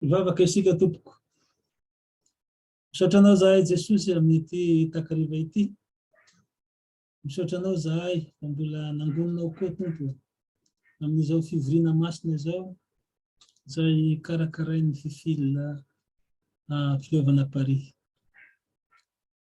Hivavaka isika tompoko. Misaotra anao zahay Jesosy amin'ity takariva ity. Misaotra anao zahay fa mbola nangononao koa tompo amin'izao fivoriana masina izao izay karakarain'ny fifilina ah, filovana Paris.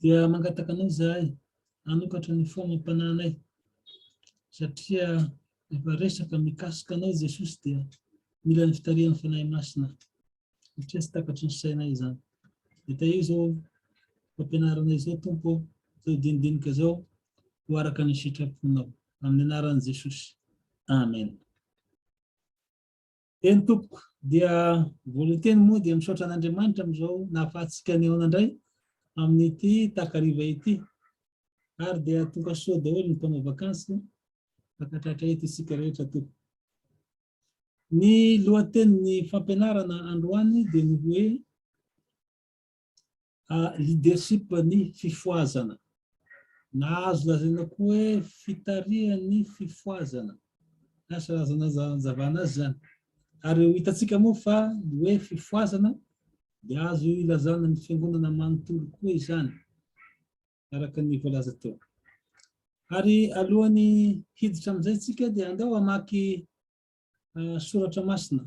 Dia mangataka anao izahay hanokatra ny fo amam-panahinay, satria rehefa resaka mikasika anao i Jesosy dia mila ny fitarihan'ny Fanahy Masina, satria tsy takatry ny sainay izany. Dia tahio izao fampianarana izao Tompo, izao dinidinika izao ho araka ny sitraponao. Amin'ny anaran'i Jesosy. Amen. Eny tompoko, dia voalohany teny moa dia misaotra an'Andriamanitra amin'izao nahafahantsika nihaona indray amin'ity takariva ity. Ary dia tonga soa daholo ny mpanao vakansy fankatratra eto isika rehetra tompoko. Ny lohatenin'ny fampianarana androany dia ny hoe Leadership ny fifohazana. Na azo lazaina koa hoe fitarihan'ny fifohazana. Asa razana aza anazavana azy izany. Ary ho hitantsika moa fa ny hoe fifohazana dia azo ilazana ny fiangonana manontolo koa izany, araka ny voalaza teo. Ary alohan'ny hiditra amin'izay tsika dia andao hamaky soratra masina.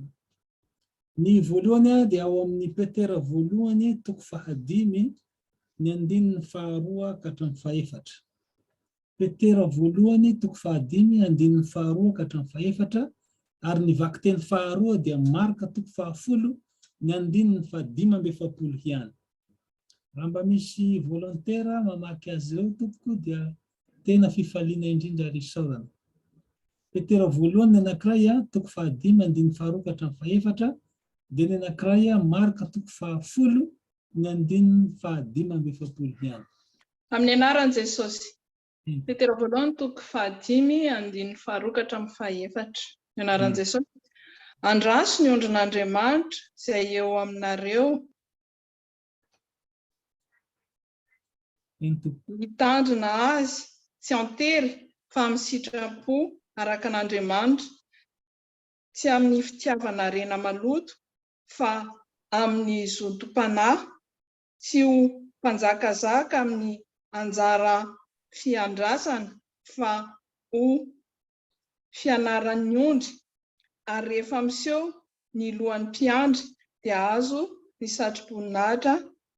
Ny voalohany dia ao amin'ny Petera voalohany toko fahadimy ny andininy faharoa ka hatramin'ny fahefatra. Petera voalohany toko fahadimy andininy faharoa ka hatramin'ny fahefatra ary ny vakiteny faharoa dia Marka toko fahafolo ny andininy fahadimy amby efapolo ihany. Raha mba misy volontera mamaky azy ireo tompoko dia Tena fifaliana indrindra ary isaorana. Petera voalohany ny anankiray a, toko fahadimy andininy faharoa ka hatramin'ny fahefatra, dia ny anankiray a, Marka toko fahafolo ny andininy fahadimy amby efapolo ihany. Amin'ny anaran'i Jesosy. Petera voalohany toko fahadimy andininy faharoa ka hatramin'ny fahefatra. Ny anaran'i Jesosy. Andraso ny ondrin'Andriamanitra izay eo aminareo. Hitandrina azy tsy an-tery fa amin'ny sitram-po araka an'Andriamanitra, tsy amin'ny fitiavanarena maloto fa amin'ny zotom-panahy, tsy ho mpanjakazaka amin'ny anjara fiandrasana fa ho fianaran'ny ondry ary rehefa miseho ny lohan'ny mpiandry dia azo ny satroboninahitra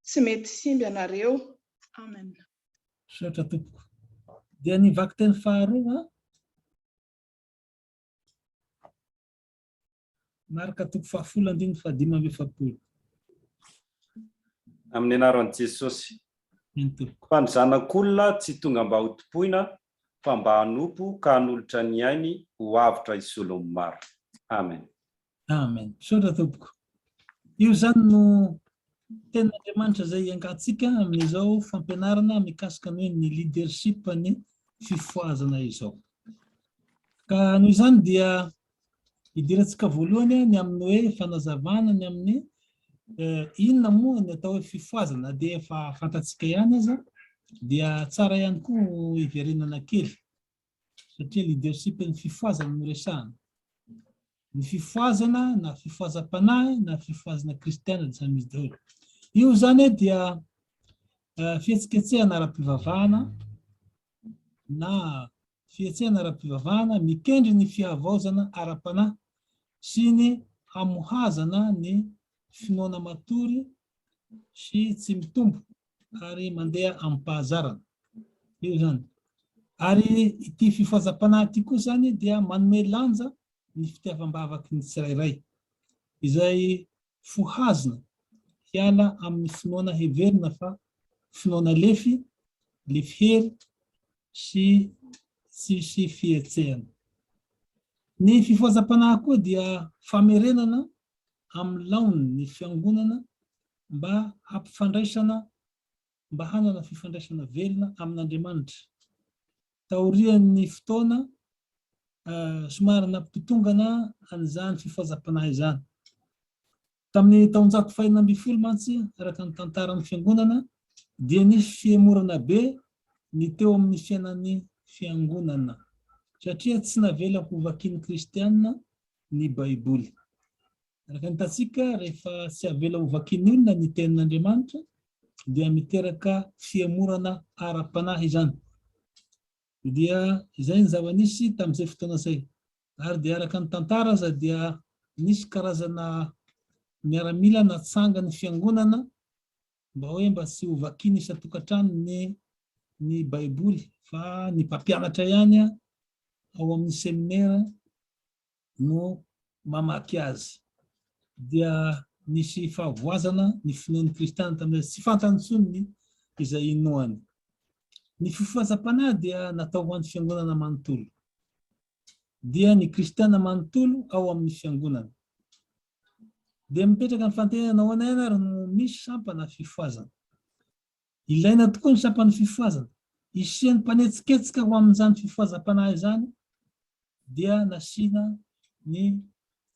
tsy mety simby anareo amen. Misaotra tompoko. Dia ny vakiteny faharoa an. Marka toko fahafolo andininy fahadimy amby efapolo. Amin'ny anaran'i Jesosy. Eny tompoko. Fa ny zanak'olona tsy tonga mba ho tompoina fa mba hanompo ka hanolotra ny ainy ho avotra hisolo ny maro. Amen. Amen. Misaotra tompoko. Io izany no tenin'Andriamanitra izay iangatsika amin'izao fampianarana mikasika ny hoe ny leadership ny fifohazana izao. Ka noho izany dia Idirantsika voalohany ny amin'ny hoe fanazavana ny amin'ny inona moa ny atao hoe fifohazana na dia efa fantatsika ihany aza dia tsara ihany koa hiverenana kely satria leadership ny fifohazana no resahana. Ny fifohazana na fifohazam-panahy na fifohazana kristiana dia samy izy daholo. Io zany dia fihetsiketsehana ara-pivavahana na fihetsehana ara-pivavahana mikendry ny fihavaozana ara-panahy sy ny hamohazana ny finoana matory sy tsy mitombo ary mandeha amim-pahazarana. Io izany. Ary ity fifohazam-panahy ity koa izany dia manome lanja ny fitiavam-bavaky ny tsirairay, izay fohazina hiala amin'ny finoana heverina fa finoana lefy, lefy hery sy tsisy fihetsehana. Ny fifohazam-panahy koa dia famerenana amin'ny laoniny ny Fiangonana mba hampifandraisana mba hanana fifandraisana velona amin'Andriamanitra. Taorian'ny fotoana, somary nampitongana an'izany fifazam-panahy izany. Tamin'ny taonjato fahenina ambin'ny folo mantsy, araka ny tantaran'ny Fiangonana, dia nisy fihemorana be ny teo amin'ny fiainan'ny Fiangonana, satria tsy navela hovakian'ny Kristiana ny Baiboly. Araka ny hitantsika, rehefa tsy avela hovakin'olona ny Tenin'Andriamanitra, dia miteraka fihemorana ara-panahy izany. Dia izay ny zava-nisy tamin'izay fotoana izay. Ary dia araka ny tantara aza dia nisy karazana miaramila natsanga ny fiangonana mba hoe mba tsy hovakiana isan-tokantrano ny ny Baiboly fa ny mpampianatra ihany ao amin'ny seminera no mamaky azy dia nisy fahavoazana ny finoan'ny kristiana tamin'ilay izy, tsy fantany intsony ny izay inoany. Ny fifohazam-panahy dia natao ho an'ny fiangonana manontolo, dia ny kristiana manontolo ao amin'ny fiangonana. Dia mipetraka ny fantenenana nahoana ihany ary no misy sampana fifohazana. Ilaina tokoa ny sampan'ny fifohazana. Hisian'ny mpanetsiketsika ho amin'izany fifohazam-panahy izany dia nasiana ny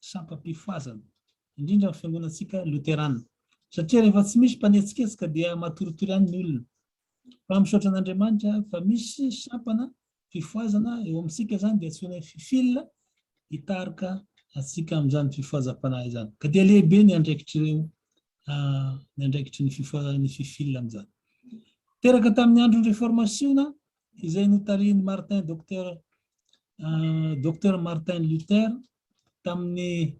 sampam-pifohazana, indrindra amin'ny fiangonantsika loterana, satria rehefa tsy misy mpanetsiketsika dia matoritory ihany ny olona. Fa misaotra an'Andriamanitra fa misy sampana fifohazana eo amintsika izany dia antsoina hoe fil hitarika antsika amin'izany fifohazam-panahy izany. Ka dia lehibe ny andraikitr'ireo ny andraikitry ny fifohazan'ny fifil amin'izany. Teraka tamin'ny andron'ny reformasiona izay notarihin'i Martin Docteur Docteur Martin Luther tamin'ny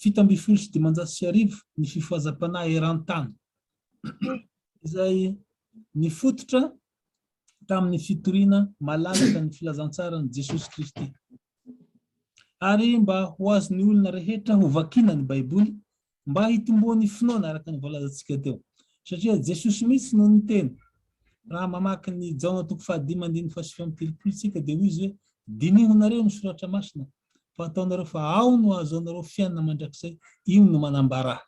fito ambin'ny folo sy dimanjato sy arivo ny fifohazam-panahy eran-tany izay nifototra tamin'ny fitoriana malalaka ny filazantsaran'i Jesosy Kristy. Ary mba ho azon'ny olona rehetra hovakiana ny Baiboly, mba hitomboan'ny finoana araka ny voalazantsika teo. Satria Jesosy mihitsy no niteny. Raha mamaky ny Jaona toko fahadimy andininy fahasivy amby telopolo isika dia hoy izy hoe, Diniho nareo ny soratra masina, fa ataonareo fa ao no ahazoanareo fiainana mandrakizay, io no manambara ahy.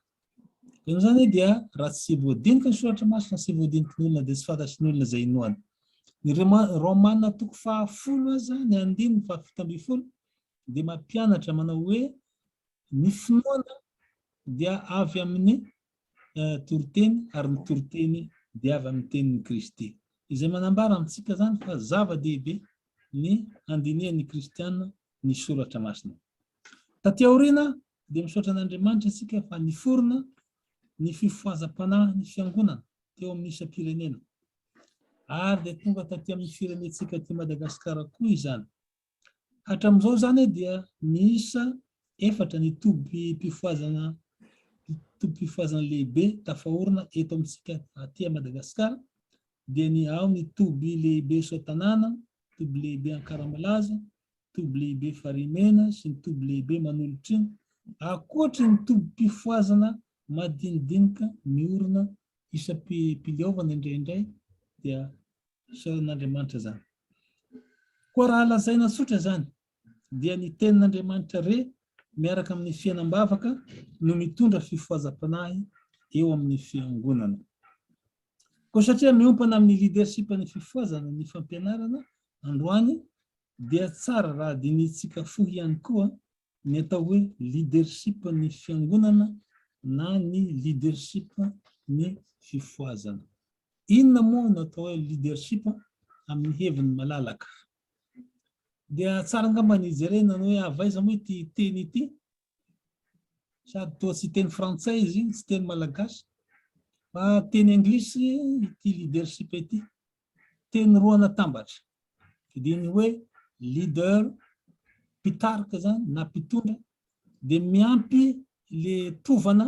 Dia noho izany dia raha tsy voadiniky ny soratra masina sy voadiniky ny olona dia tsy fantatry ny olona izay inoany. Ny Romana toko fahafolo aza ny andininy fahafito ambin'ny folo dia mampianatra manao hoe ny finoana dia avy amin'ny eh, toriteny ary ny toriteny dia avy amin'ny tenin'i Kristy. Izay manambara amintsika izany fa zava-dehibe ny andinihan'ny kristiana ny soratra masina. Taty aoriana Dia misaotra an'Andriamanitra isika fa niforona ny fifohazam-panahin'ny Fiangonana teo amin'ny isam-pirenena. Ary dia tonga taty amin'ny firenentsika aty Madagasikara koa izany. Hatramin'izao izany dia miisa efatra ny tobim-pifohazana tobim-pifohazana lehibe tafaorina eto amintsika aty Madagasikara dia ny ao ny toby lehibe Soatanàna, toby lehibe Ankaramalaza, toby lehibe farimena sy ny toby lehibe manolotra ankoatry ny tobim-pifohazana madinidinika miorina isam-piliaovana indraindray dia isaoran'Andriamanitra izany. Koa raha lazaina tsotra izany dia ny tenin'Andriamanitra re miaraka amin'ny fiainam-bavaka no mitondra fifohazam-panahy eo amin'ny fiangonana. Koa satria miompana amin'ny leadership ny fifohazana ny fampianarana androany dia tsara raha dinihintsika fo ihany koa ny atao hoe leadership ny fiangonana na ny leadership ny fifohazana. Inona moa no atao hoe leadership amin'ny heviny malalaka? Dia tsara angamba ny jerena ny hoe avy aiza moa ity teny ity? Sady toa tsy teny frantsay izy, tsy teny malagasy, fa teny anglisy ity leadership ity. Teny roa natambatra, dia ny hoe leader, mpitarika izany na mpitondra, dia miampy le tovana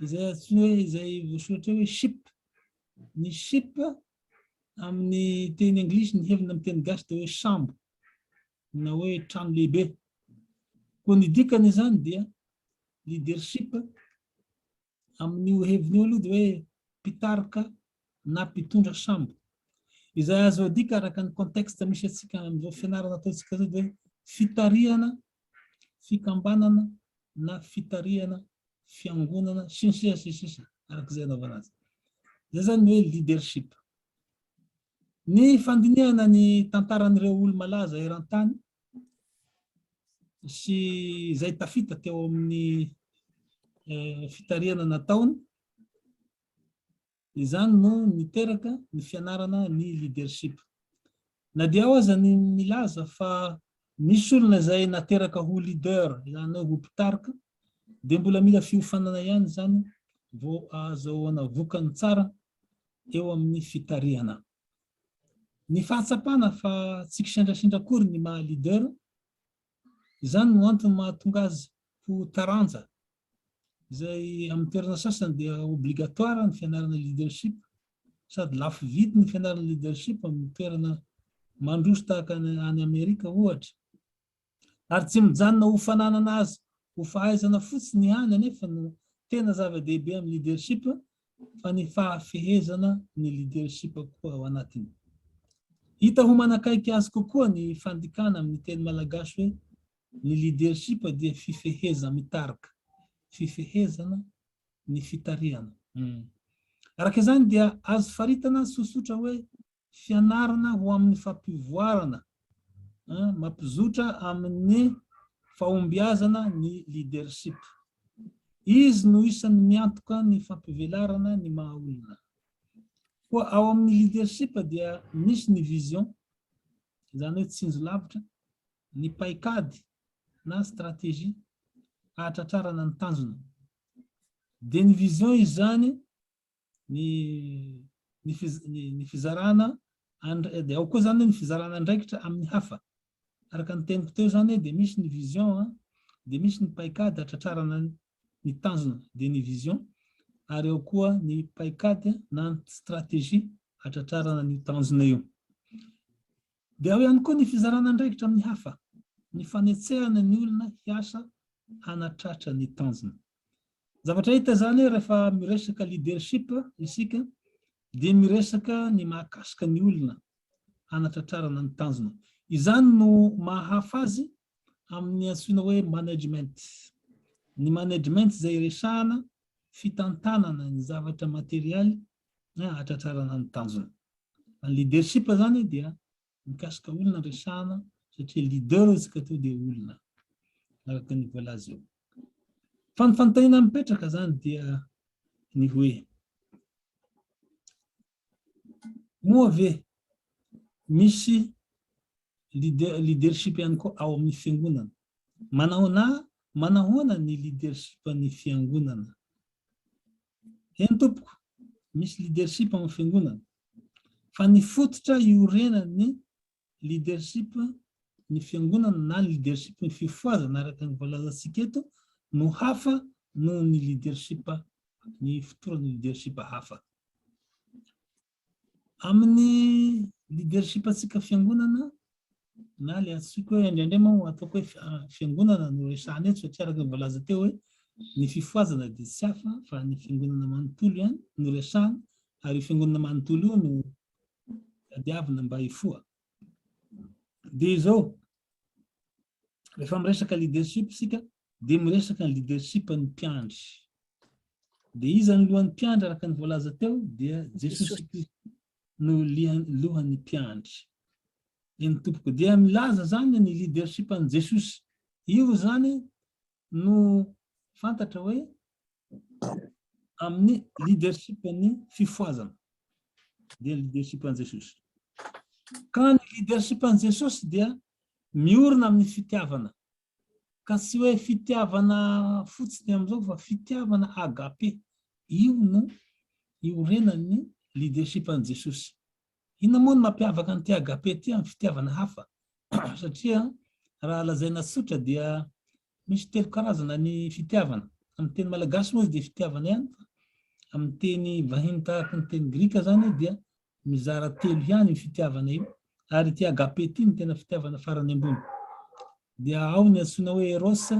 izay atsoina hoe izay voasoratra hoe ship. Ny ship amin'ny teny anglisy ny hevina amin'ny teny gasy dia hoe sambo na hoe trano lehibe. Koa ny dikany izany dia leadership amin'io heviny io aloha dia hoe mpitarika na mpitondra sambo. Izay azo adika araka ny contexte misy antsika amin'izao fianarana ataontsika izao dia fitarihana, fikambanana na fitarihana fiangonana sy ny sisa sy ny sisa araka izay anaovana azy. Izay izany hoe leadership. Ny fandinihana ny tantaran'ireo olo-malaza eran-tany sy izay tafita teo amin'ny fitarihana nataony, izany no niteraka ny fianarana ny leadership. Na dia ao aza ny milaza fa misy olona izay nateraka ho leader, izany hoe ho mpitarika, dia mbola mila fiofanana ihany izany vao ahazoana vokany tsara eo amin'ny fitarihana. Ny fahatsapana fa tsy kisendrasendra akory ny maha leader, izany no antony mahatonga azy ho taranja, izay amin'ny toerana sasany dia obligatoire ny fianarana leadership, sady lafo vidy ny fianarana leadership amin'ny toerana mandroso tahaka any Amerika ohatra. Ary tsy mijanona ho fananana azy ho fahaizana fotsiny ihany anefa no tena zava-dehibe amin'ny leadership fa ny fahafehezana ny leadership koa ao anatiny. Hita ho manakaiky azy kokoa ny fandikana amin'ny teny malagasy hoe ny leadership dia fifeheza-mitarika, fifehezana ny fitarihana. Araka izany dia azo faritana sosotra hoe Fianarana ho amin'ny fampivoarana, mampizotra amin'ny fahombiazana ny leadership. Izy no isan'ny miantoka ny fampivelarana ny maha olona. Koa ao amin'ny leadership dia misy ny vision, izany hoe tsinjo lavitra, ny paikady na stratégie ahatratrarana ny tanjona. Dia ny vision izany ny fizarana, dia ao koa izany ny fizarana andraikitra amin'ny hafa. Araka ny teniko teo izany dia misy ny vision, dia misy ny paikady hatratrarana ny tanjona, dia ny vision, ary ao koa ny paikady na ny stratégie hatratrarana ny tanjona io. Dia ao ihany koa ny fizarana andraikitra amin'ny hafa, ny fanetsehana ny olona hiasa hanatratra ny tanjona. Zavatra hita izany rehefa miresaka leadership isika dia miresaka ny mahakasika ny olona hanatratrarana ny tanjona. Izany no maha hafa azy amin'ny antsoina hoe management. Ny management izay resahana fitantanana ny zavatra materialy hahatratrarana ny tanjona. Ny leadership izany dia mikasika olona ny resahana satria leader izy ka tonga dia olona araka ny voalaza eo. Fa ny fanontaniana mipetraka izany dia ny hoe moa ve misy leader, leadership ihany koa ao amin'ny fiangonana? Manahoana manahoana ny leadership ny fiangonana? Eny tompoko, misy leadership ao amin'ny fiangonana, fa ny fototra iorenan'ny leadership ny fiangonana na ny leadership ny fifohazana araka ny voalazantsika eto no hafa noho ny leadership ny fotoran'ny leadership hafa. Amin'ny leadership antsika fiangonana na ilay antsoiko hoe indraindray moa ataoko hoe fiangonana no resahana eto satria araka ny voalaza teo hoe ny fifohazana dia tsy hafa fa ny fiangonana manontolo ihany no resahana ary io fiangonana manontolo io no tadiavina mba hifoha. Dia izao, rehefa miresaka leadership isika, dia miresaka ny leadership ny mpiandry. Dia iza ny lohan'ny mpiandry araka ny voalaza teo? Dia Jesosy Kristy no lohan'ny mpiandry. Eny tompoko, dia milaza zany ny leadership an'i Jesosy. Io zany no fantatra hoe amin'ny leadership-n'ny fifohazana, dia ny leadership-n'i Jesosy. Ka ny leadership-n'i Jesosy dia miorina amin'ny fitiavana, ka tsy hoe fitiavana fotsiny amin'izao fa fitiavana agape. Io no iorenan'ny leadership-n'i Jesosy. Inona moa no mampiavaka an'ity agape ity amin'ny fitiavana hafa? Satria raha lazaina tsotra dia misy telo karazana ny fitiavana. Amin'ny teny malagasy moa izy dia fitiavana ihany fa amin'ny teny vahiny tahaka ny teny grika izany dia mizara telo ihany io fitiavana io ary ity agape ity no tena fitiavana farany ambony. Dia ao ny antsoina hoe eros,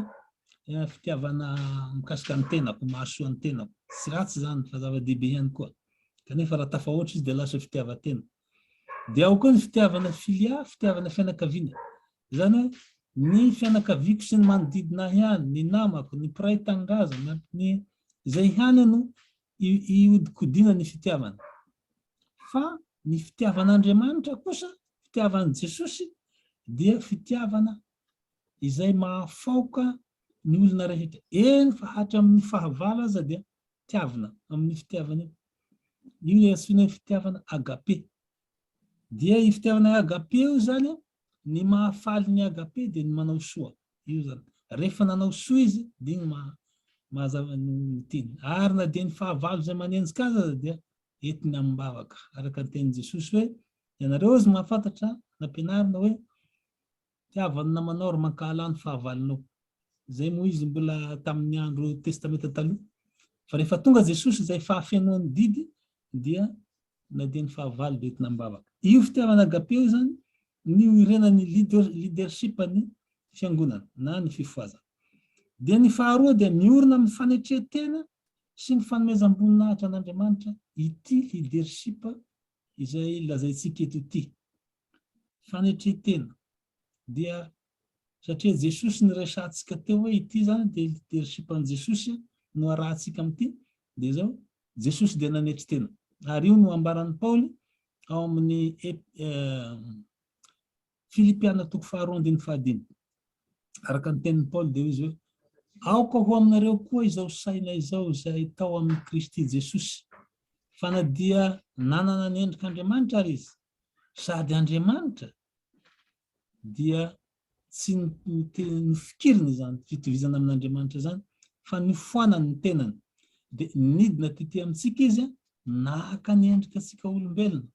fitiavana mikasika ny tenako, mahasoa ny tenako. Tsy ratsy izany fa zava-dehibe ihany koa. Kanefa raha tafahoatra izy dia lasa fitiavan-tena. Dia ao koa ny fitiavana filia, fitiavana fianakaviana. Izany hoe ny fianakaviako sy ny manodidina ahy ihany, ny namako, ny mpiray tanindrazana, ny izay ihany no ihodikodiana ny fitiavana. Fa ny fitiavan'Andriamanitra kosa, fitiavan'i Jesosy, dia fitiavana izay mahafaoka ny olona rehetra, eny fa hatramin'ny fahavalo aza dia tiavina amin'io fitiavana io. Io ilay antsoina hoe fitiavana agape. Dia io fitiavana agape io izany, ny mahafaly ny agape dia ny manao soa. Io izany. Rehefa nanao soa izy, dia iny maha, mazava ny teny. Ary na dia ny fahavalo izay manenjika azy aza dia entina amim-bavaka. Araka ny tenin'i Jesosy hoe, Ianareo hozy mahafantatra, nampianarina hoe, Tiavo ny namanao ary mankahalà ny fahavalonao. Izay moa izy mbola tamin'ny andro Testamenta Taloha. Fa rehefa tonga Jesosy izay fahafenoan'ny didy dia na dia ny fahavalo dia entina amim-bavaka. Io fitiavana agape io izany ny oirenan'ny leadership-n'ny fiangonana na ny fifohazana. Dia ny faharoa dia miorina amin'ny fanetren-tena sy ny fanomezam-boninahitra an'Andriamanitra ity leadership izay lazaintsika eto ity. Fanetren-tena. Dia satria Jesosy niresahantsika teo hoe ity izany dia leadership an'i Jesosy no arahantsika amin'ity, dia izao, Jesosy dia nanetry tena. Ary io no ambaran'i Paoly ao amin'ny Ep. Filipiana toko faharoa andininy fahadimy. Araka ny tenin'i Paoly dia hoy izy hoe, Aoka ho aminareo koa izao saina izao izay tao amin'i Kristy Jesosy, fa na dia nanana ny endrik'Andriamanitra ary izy, sady Andriamanitra, dia tsy nofikiriny izany fitovizana amin'Andriamanitra izany, fa nifoanany ny tenany, dia nidina tetỳ amintsika izy Naka ny endrikatsika olombelona,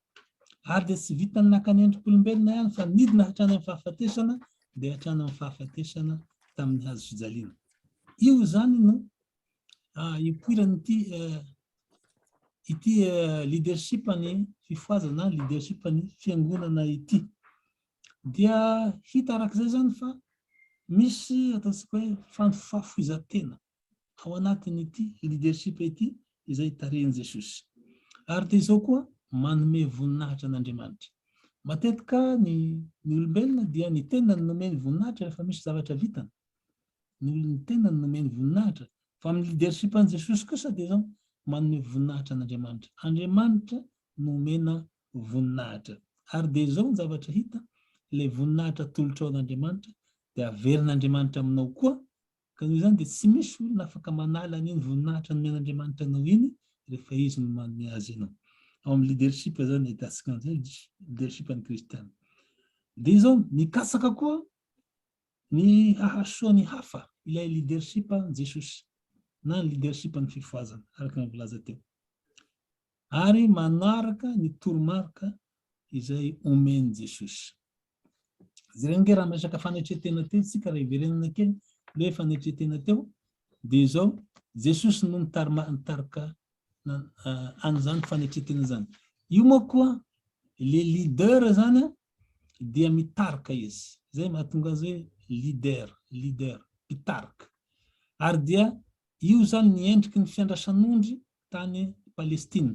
ary dia tsy vitan'ny naka ny endrik'olombelona ihany fa nidina hatrany amin'ny fahafatesana, dia hatrany amin'ny fahafatesana tamin'ny hazo fijaliana. Io izany no ipoiran'ity ity leadership ny fifohazana, leadership ny fiangonana ity. Dia hita arak'izay izany fa misy ataontsika hoe fanofafohizan-tena. ao anatin'ity leadership ity izay tarihin'i Jesosy. Ary dia izao koa, manome voninahitra an'Andriamanitra. Matetika ny ny olombelona dia ny tenany no omeny voninahitra rehefa misy zavatra vitany. Ny olon'ny tenany no omeny voninahitra. Fa amin'ny leadership an'i Jesosy kosa dia izao, manome voninahitra an'Andriamanitra. Andriamanitra no omena voninahitra. Ary dia izao ny zavatra hita, ilay voninahitra atolotrao an'Andriamanitra dia averin'Andriamanitra aminao koa Ka noho izany dia tsy misy olona afaka manala an'iny voninahitra nomen'Andriamanitra anao iny rehefa Izy no manome azy anao. Ao amin'ny leadership izao no ahitantsika an'izay, leadership an'ny kristiana. Dia izao, mikatsaka koa ny hahasoa ny hafa, ilay leadership an'i Jesosy, na ny leadership an'ny fifohazana, araka ny voalaza teo. ary manaraka ny toromarika izay omen'i Jesosy. Jereo ange raha miresaka fanetren-tena teo isika, raha hiverenana kely le hoe fanetren-tena teo, dia izao, Jesosy no nitarima- nitarika na- a- an'izany fanetren-tena izany. Io moa koa le leader izany a, dia mitarika izy. Izay mahatonga azy hoe leader, leader, mpitarika. Ary dia io izany ny endriky ny fiandrasan'ondry tany Palestina.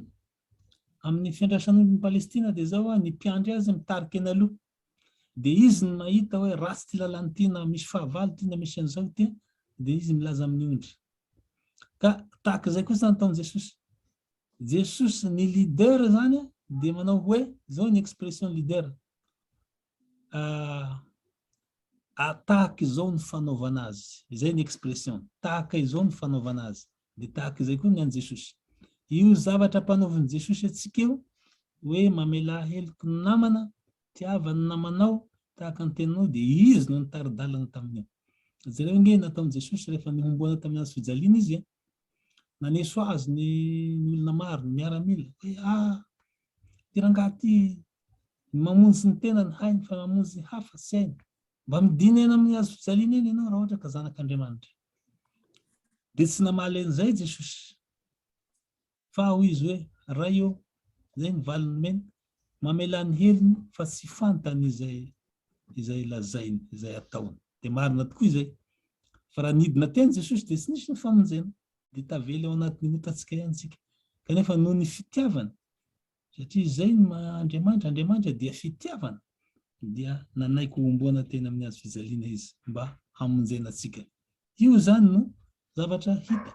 Amin'ny fiandrasan'ondrin'i Palestina dia izao a, ny mpiandry azy mitarika eny aloha, dia izy no mahita hoe ratsy ity lalana ity na misy fahavalo ity na misy an'izao ity, dia izy milaza amin'ny ondry. Ka tahaka izay kosa nataon'i Jesosy. Jesosy ny leader izany dia manao hoe, izao ny expression leader, ah, ah, tahaka izao ny fanaovana azy. Izay ny expression, tahaka izao ny fanaovana azy. Dia tahaka izay koa ny an'i Jesosy. Io zavatra ampanaovin'i Jesosy antsika io, hoe mamelà heloky ny namana, tiava ny namanao, tahaka ny tenanao, dia Izy no nitari-dalana tamin'io. Jereo ange ny nataon'i Jesosy rehefa nihomboana tamin'ny hazo fijaliana Izy. Naneso Azy ny ny olona maro, ny miaramila, hoe, Ah! Ity rangahy ity, ny mamonjy ny tenany hainy fa mamonjy ny hafa tsy hainy. Mba midina eny amin'ny hazo fijaliana eny ianao raha ohatra ka Zanak'Andriamanitra. Dia tsy namaly an'izay Jesosy. Fa hoy izy hoe, Ray ô, izay ny valiny nomeny, mamelà ny helony fa tsy fantany izay izay lazainy, izay ataony. Dia marina tokoa izay. Fa raha nidina teny Jesosy dia tsy nisy ny famonjena. Dia tavela ao anatin'ny otantsika ihany isika. Kanefa noho ny fitiavany, Satria izay ny maha Andriamanitra, Andriamanitra dia fitiavana, dia nanaiky ho homboana teny amin'ny hazo fijaliana izy mba hamonjena antsika. Io izany no zavatra hita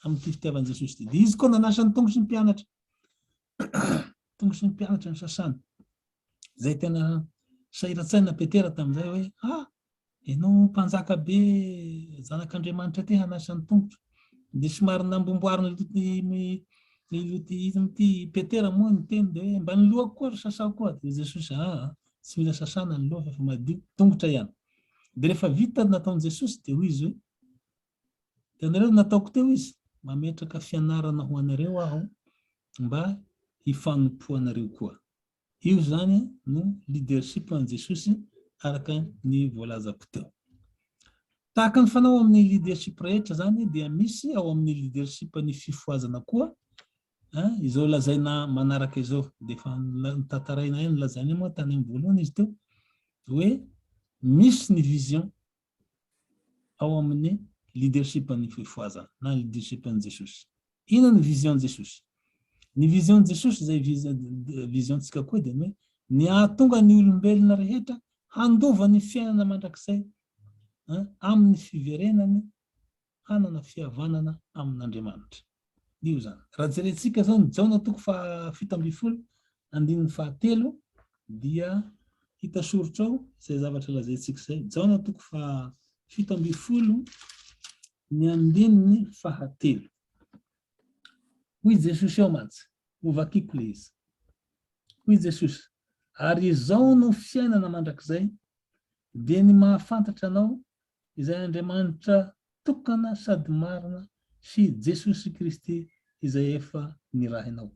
amin'ity fitiavan'i Jesosy ity. Dia izy koa nanasa ny tongotry ny mpianatra, tongotry ny mpianatra ny sasany, izay tena sahiran-tsaina Petera tamin'izay hoe, ah, Ianao mpanjaka be zanak'Andriamanitra ity hanasa ny tongotra. Dia somary nambomboarin'i Loty i Loty ity Petera moa ny teny dia hoe mba ny lohako koa ry sasao koa. Dia Jesosy aa ah, tsy mila sasana ny loha fa madio, tongotra ihany. Dia rehefa vita nataon'i Jesosy dia hoy izy hoe hitanareo ny nataoko teo izy, mametraka fianarana ho anareo aho mba hifanompoanareo koa. Io izany no leadership an'i Jesosy araka ny voalazako teo. Tahaka ny fanao amin'ny leadership rehetra izany dia misy ao amin'ny leadership ny fifohazana koa izao lazaina manaraka izao dia efa nitantarainay ny lazainay moa tany amin'ny voalohany izy teo hoe misy ny vision ao amin'ny leadership an'ny fifohazana na leadership an'i Jesosy. Inona ny vision Jesosy? Ny vision Jesosy izay vision tsika koa dia ny hoe ny ahatonga ny olombelona rehetra handova ny fiainana mandrakizay amin'ny fiverenany hanana fihavanana amin'Andriamanitra. Io izany. Raha jerentsika izao ny Jaona toko faha fito ambin'ny folo andininy faha telo dia hita soritra ao izay zavatra lazaintsika izay. Jaona toko faha fito ambin'ny folo ny andininy faha telo. Hoy Jesosy ao mantsy, ho vakiko le izy. Hoy Jesosy, ary izao no fiainana mandrakizay, dia ny mahafantatra anao izay Andriamanitra tokana sady marina sy Jesosy Kristy izay efa nirahinao.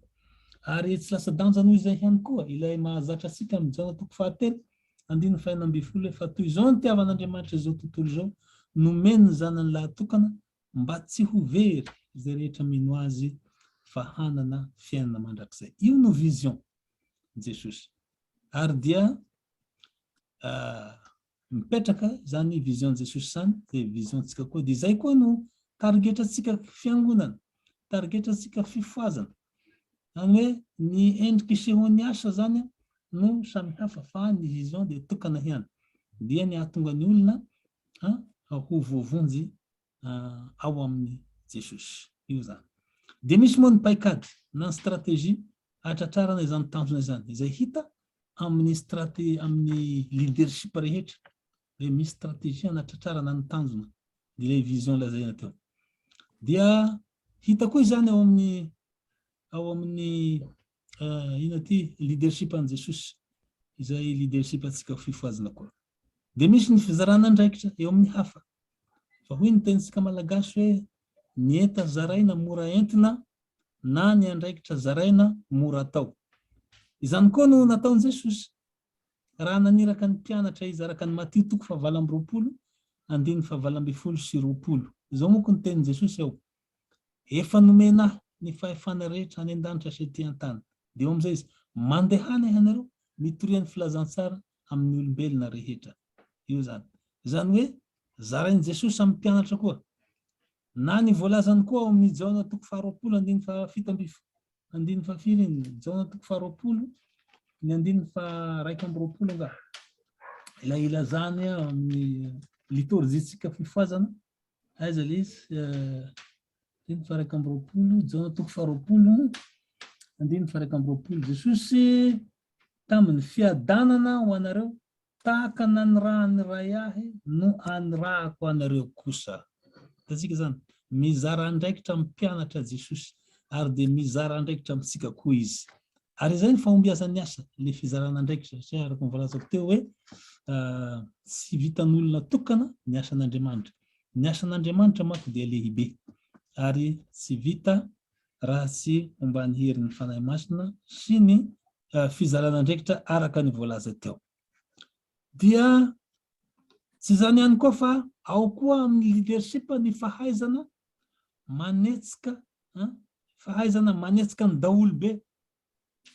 Ary tsy lasa-danja noho izay ihany koa ilay mahazatra antsika amin'i Jaona toko fahatelo, andininy fahenina ambin'ny folo hoe, Fa toy izao nitiavan'Andriamanitra izao tontolo izao, nomeny ny Zanany lahatokana, mba tsy ho very izay rehetra mino Azy, fa hanana fiainana mandrakizay. Io no vision Jesosy. Ary dia Mipetraka zany vision Jesosy zany de vision tsika koa de zay koa no tarigetra tsika fiangonana tarigetra tsika fifohazana zany hoe ny endriky sehony asa zany no samy hafa fa ny vision de tokana ihany dia ny ahatonga ny olona a ho voavonjy ao amin'i Jesosy. Io izany. Dia misy moa ny paikady na ny stratégie hahatratrarana izany tanjona izany, izay hita amin'ny straté amin'ny leadership rehetra hoe misy stratégie hanatratrarana ny tanjona dia ilay vision lazaina teo. Dia hita koa izany ao amin'ny ao amin'ny Inona ity leadership an'i Jesosy izay leadership antsika ho fifohazana koa. Dia misy ny fizarana andraikitra eo amin'ny hafa. Fa hoy ny tenintsika malagasy hoe ny enta zaraina mora entina na ny andraikitra zaraina mora atao. Izany koa no nataon'i Jesosy raha naniraka ny mpianatra hizara ka ny Matio toko fahavalo amby roapolo andininy fahavalo ambin'ny folo sy roapolo. Izao moa koa ny tenin'i Jesosy ao. Efa nomena ahy ny fahefana rehetra any an-danitra sy ety an-tany. Dia eo amin'izay izy, Mandehana ianareo, mitoria ny filazantsara amin'ny olombelona rehetra. Io izany. Izany hoe, zarain'i Jesosy amin'ny mpianatra koa. Na ny voalazany koa ao amin'ny Jaona toko faharoapolo andininy fahafito amby andininy fahafiry iny? Jaona toko faharoapolo, ny andininy faharaika amby roapolo angaha. Ilay ilazany ao amin'ny litorjiantsika fifohazana, Aiza le izy? Andininy fahairaika amby roapolo, Jaona toko faharoapolo, andininy fahairaika amby roapolo. Jesosy tamin'ny fiadanana ho anareo, tahaka nanirahan'ny Ray ahy no anirahako anareo kosa. Hitantsika izany, mizara andraikitra amin'ny mpianatra Jesosy, ary dia mizara andraikitra amintsika koa izy. Ary izay ny fahombiazan'ny asa, ilay fizarana andraikitra, satria araka ny voalazako teo hoe tsy vitan'olona tokana ny asan'Andriamanitra. Ny asan'Andriamanitra manko dia lehibe ary tsy vita raha tsy omban'ny herin'ny Fanahy Masina sy ny fizarana andraikitra araka ny voalaza teo. Dia tsy izany ihany koa fa ao koa amin'ny leadership ny fahaizana manetsika an, fahaizana manetsika ny daholobe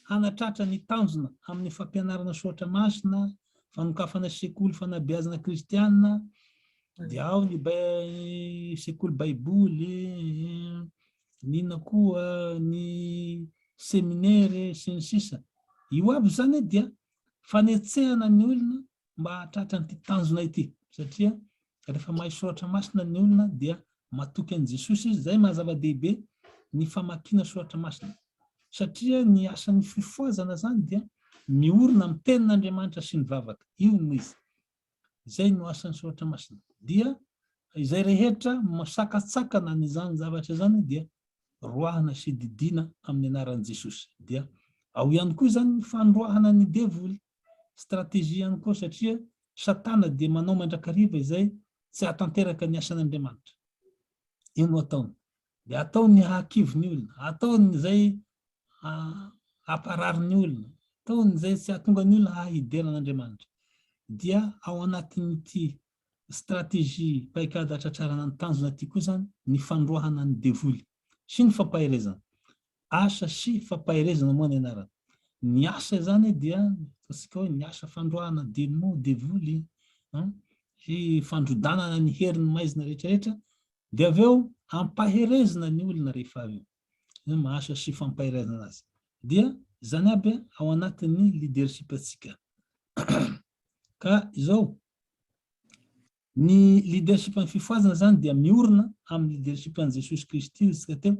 hanatratra ny tanjona amin'ny fampianarana soratra masina, fanokafana sekoly fanabeazana kristiana, dia ao ny sekoly baiboly, ny inona koa ny seminere sy ny sisa. Io aby izany dia fanetsehana ny olona mba hahatratra an'ity tanjona ity, satria rehefa mahay soratra masina ny olona dia matoky an'i Jesosy izy, izay maha-zava-dehibe ny famakiana soratra masina, satria ny asan'ny fifohazana izany dia miorina amin'ny tenin'Andriamanitra sy ny vavaka, io no izy, Izay no asan'ny Soratra Masina. Dia izay rehetra masakatsakana an'izany zavatra izany dia roahina sy didiana amin'ny anaran'i Jesosy. Dia ao ihany koa izany ny fandroahana ny devoly, stratégie ihany koa satria Satana dia manao mandrakariva izay tsy ahatanteraka ny asan'Andriamanitra. Io no ataony. dia ataony ny hahakivy ny olona, ataony izay hamparary ny olona, ataony izay tsy hahatonga ny olona hahidera an'Andriamanitra. Dia ao anatin'ity stratégie paikady hatratrarana ny tanjona ity koa izany ny fandroahana ny devoly sy ny fampaherezana. Asa sy fampaherezana moa ny anarany. Ny asa izany dia ataontsika hoe ny asa fandroahana demon, devoly, sy fandrodanana ny herin'ny maizina rehetrarehetra Dia avy eo ampaherezina ny olona rehefa avy eo. Izany mahasoa sy fampaherezana azy. Dia izany aby ao anatin'ny leadership antsika. Ka izao, ny leadership an'ny fifohazana izany dia miorina amin'ny leadership an'i Jesosy Kristy hoy isika teo,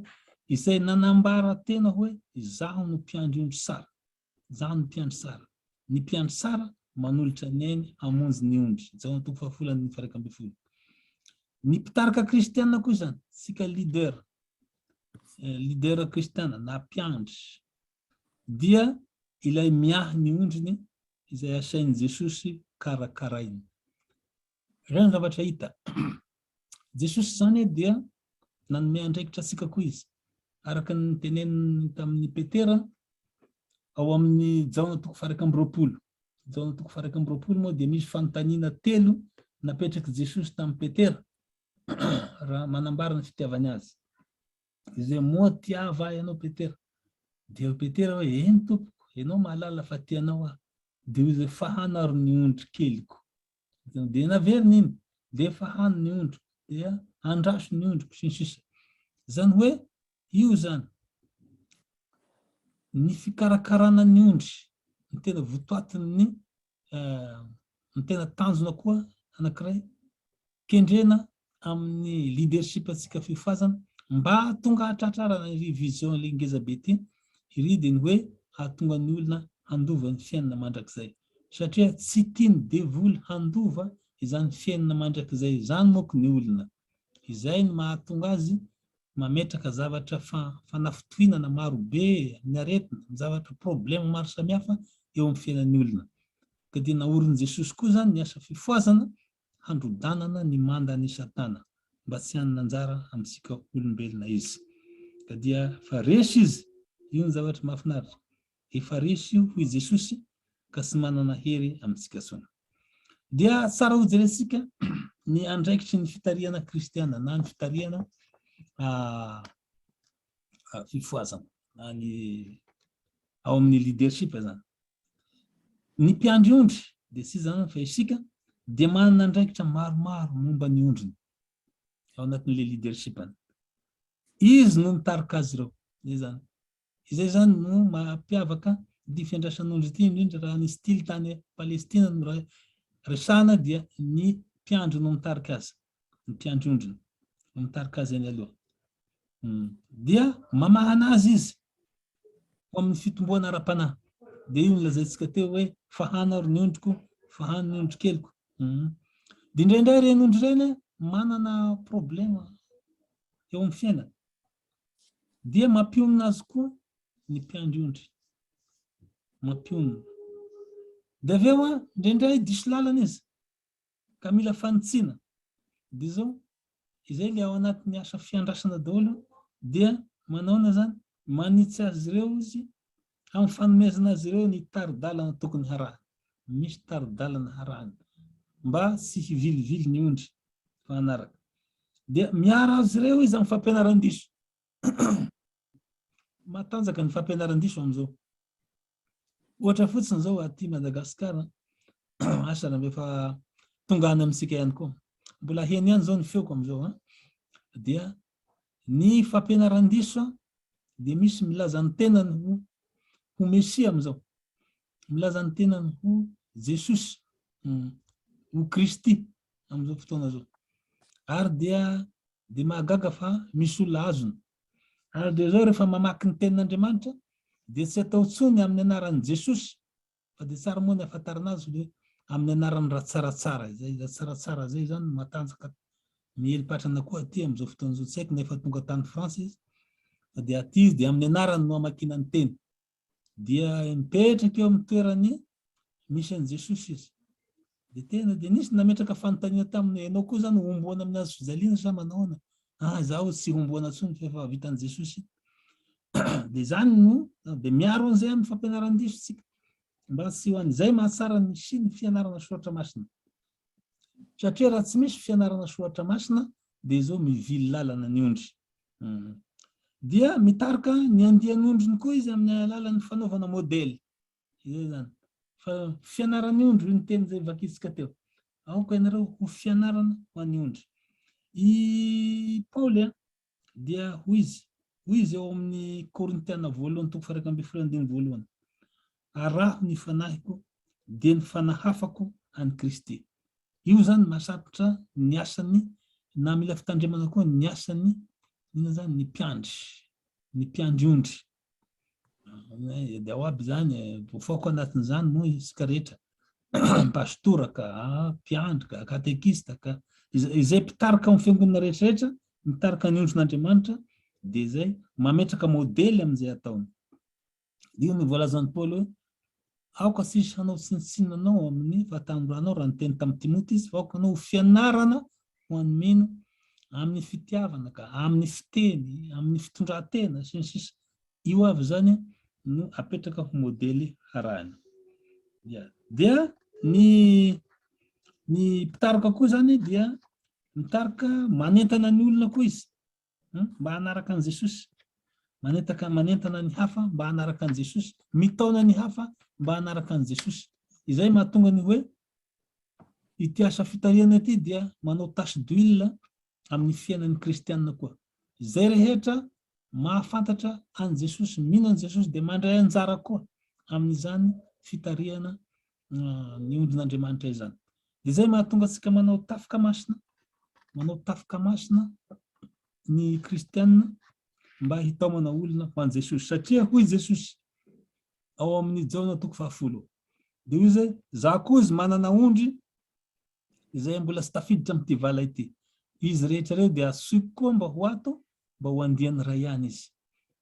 izay nanambara tena hoe izaho no mpiandry ondry sara. Izaho no mpiandry sara. Ny mpiandry sara manolotra ny ainy hamonjy ny ondry. Jaona toko fahafolo andininy faharaika ambin'ny folo. Ny mpitarika kristiana koa izany, tsika leader, eh, leader kristiana na mpiandry, dia ilay miahy ny ondriny izay asain'i Jesosy karakaraina. Iray ny zavatra hita. Jesosy izany dia nanome andraikitra antsika koa izy. Araka ny niteneniny tamin'i Petera ao amin'ny Jaona toko fahairaika amby roapolo. Jaona toko fahairaika amby roapolo moa dia misy fanontaniana telo napetrak'i Jesosy tamin'i Petera raha manambara ny fitiavany azy. Izay moa tiava ianao Petera. Dia Petera hoe, eny tompoko, ianao mahalala fa tianao aho. Dia hoy izy, fahanaro ny ondry keliko. dia naveriny iny dia efa hany ny ondriko dia andraso ny ondriko sy ny sisa izany hoe io izany ny fikarakarana ny ondry ny tena votoatin'ny eh, ny tena tanjona koa anankiray kendrena amin'ny leadership antsika feo fazana mba hahatonga hatratrarana iry vision ilay ngeza be ity, iry dia ny hoe hahatonga ny olona handova ny fiainana mandrakizay. Satria tsy tian'ny devoly handova izany fiainana mandrakizay izany manko ny olona. Izay no mahatonga azy mametraka zavatra fanafintohinana maro be, ny aretina, ny zavatra problème maro samihafa eo amin'ny fiainan'ny olona. Ka dia naorin'i Jesosy koa izany ny asa fifohazana handrodanana ny mandan' i Satana, mba tsy hanana anjara amintsika olombelona izy. Ka dia efa resy izy, io ny zavatra mahafinaritra, efa resy io, hoy Jesosy, ka tsy manana hery amintsika intsony. Dia tsara hojerentsika ny andraikitry ny fitarihana kristiana, na ny fitarihana fifohazana, na ny ao amin'ny leadership izany. Ny mpiandry ondry, dia tsy iza fa isika, dia manana andraikitra maromaro momba ny ondriny ao anatin'ilay leadership-ny. Izy no mitarika azy ireo. Izay izany. Izay izany no mampiavaka ity fiandrasan'ondry ity, indrindra raha ny style tany Palestina no resahana dia ny mpiandry no mitarika azy. ny mpiandry ondriny, no mitarika azy eny aloha. Dia mamahana azy izy ho amin'ny fitomboana ara-panahy. Dia io nilazaintsika teo hoe fahana ary ny ondriko, fahany ny ondry keliko. Dia indraindray ireny ondry ireny manana problema eo amin'ny fiainana. Dia mampionona azy koa ny mpiandry ondry. Mampionona. Dia avy eo indraindray diso lalana izy. Ka mila fanitsiana. Dia izao, izay ilay ao anatin'ny asa fiandrasana daholo, dia manaona izany? Manitsy azy ireo Izy, amin'ny fanomezana azy ireo ny tari-dalana tokony harahana. Misy tari-dalana harahana, mba tsy hivilivily ny ondry, fa hanaraka. Dia miaro azy ireo Izy amin'ny fampianaran-diso. matanjaka ny fampianaran-diso amin'izao. Ohatra fotsiny izao aty Madagascar, asa raha efa tonga any amintsika ihany koa. Mbola heno ihany izao ny feoko amin'izao. Dia ny fampianaran-diso dia misy milaza ny tenany ho ho Mesia amin'izao. Milaza ny tenany ho Jesosy, hmm, ho Kristy amin'izao fotoana izao. Ary dia dia mahagaga fa misy olona azony. Ary dia izao rehefa mamaky ny tenin'Andriamanitra dia tsy atao tsony amin'ny anaran'i Jesosy fa dia tsara moa ny afantarana azy hoe amin'ny anarany ratsaratsara izay izay tsaratsara izay izany no matanjaka miely patrana koa aty amin'izao fotoana izao tsy haiko na efa tonga tany France izy fa dia aty izy dia amin'ny anarany no amakiana ny teny Dia mipetraka eo amin'ny toerany misy an'i Jesosy izy. Dia tena dia nisy nametraka fanontaniana taminy ianao koa izany homboana amin'ny hazo fijaliana sa manahoana? Ah, izaho tsy homboana intsony fa efa vitan'i Jesosy. dia izany no dia miaro an'izay amin'ny fampianaran-diso tsika mba tsy ho an'izay mahatsara ny sy ny fianarana soratra masina. satria raha tsy misy fianarana soratra masina dia izao mivily lalana ny ondry. Dia mitarika ny andian'ondriny koa izy amin'ny alalan'ny fanaovana modely. Izay izany. Fa fianaran'ny ondry io ny teny izay vakintsika teo. Aoka ianareo ho fianarana ho an'ny ondry. I Paoly Dia hoy izy, hoy izy ao amin' ny Korintiana voalohany toko faha iraika ambin'ny folo andininy voalohany, Araho ny fanahiko, dia ny fanahafako an' i Kristy. Io izany mahasarotra ny asan' ny, na mila fitandremana koa ny asan' ny, inona izany, ny mpiandry, ny mpiandry ondry. dia ao aby izany e. Voafaoka anatin'izany moa isika rehetra. Pastora ka, mpiandry ka, katekista ka. Izay mpitarika amin'ny fiangonana rehetrarehetra, mitarika ny ondrin'Andriamanitra, dia izay mametraka modely amin'izay ataony. Io no voalazan'i Paoly hoe Aoka tsisy hanao tsinontsinona anao amin'ny fahatanoranao raha niteny tamin'i Timoty izy fa aoka anao ho fianarana ho an'ny mino amin'ny fitiavana ka, amin'ny fiteny, amin'ny fitondran-tena, sy ny sisa Io avy izany no apetraka ho modely harahina. Dia, dia ny, ny mpitaroka koa izany dia mitarika manentana ny olona koa izy. mba hanaraka an'i Jesosy, manentaka, manentana ny hafa mba hanaraka an'i Jesosy, mitaona ny hafa mba hanaraka an'i Jesosy. Izay mahatonga ny hoe ity asa fitarihana ity dia manao tache d'huile amin'ny fiainan'ny kristianina koa. Izay rehetra mahafantatra an'i Jesosy, mino an'i Jesosy dia mandray anjara koa amin'izany fitarihana ny ondrin'Andriamanitra izany. Dia izay mahatonga antsika manao tafika masina, manao tafika masina ny kristianina mba hitaomana olona ho an'i Jesosy. Satria hoy Jesosy ao amin'ny Jaona toko fahafolo, dia hoy izay, za koa izy manana ondry izay mbola tsy tafiditra amin'ity vala ity. Izy rehetra ireo dia asoiko koa mba ho ato, mba ho andian'ny Ray ihany izy.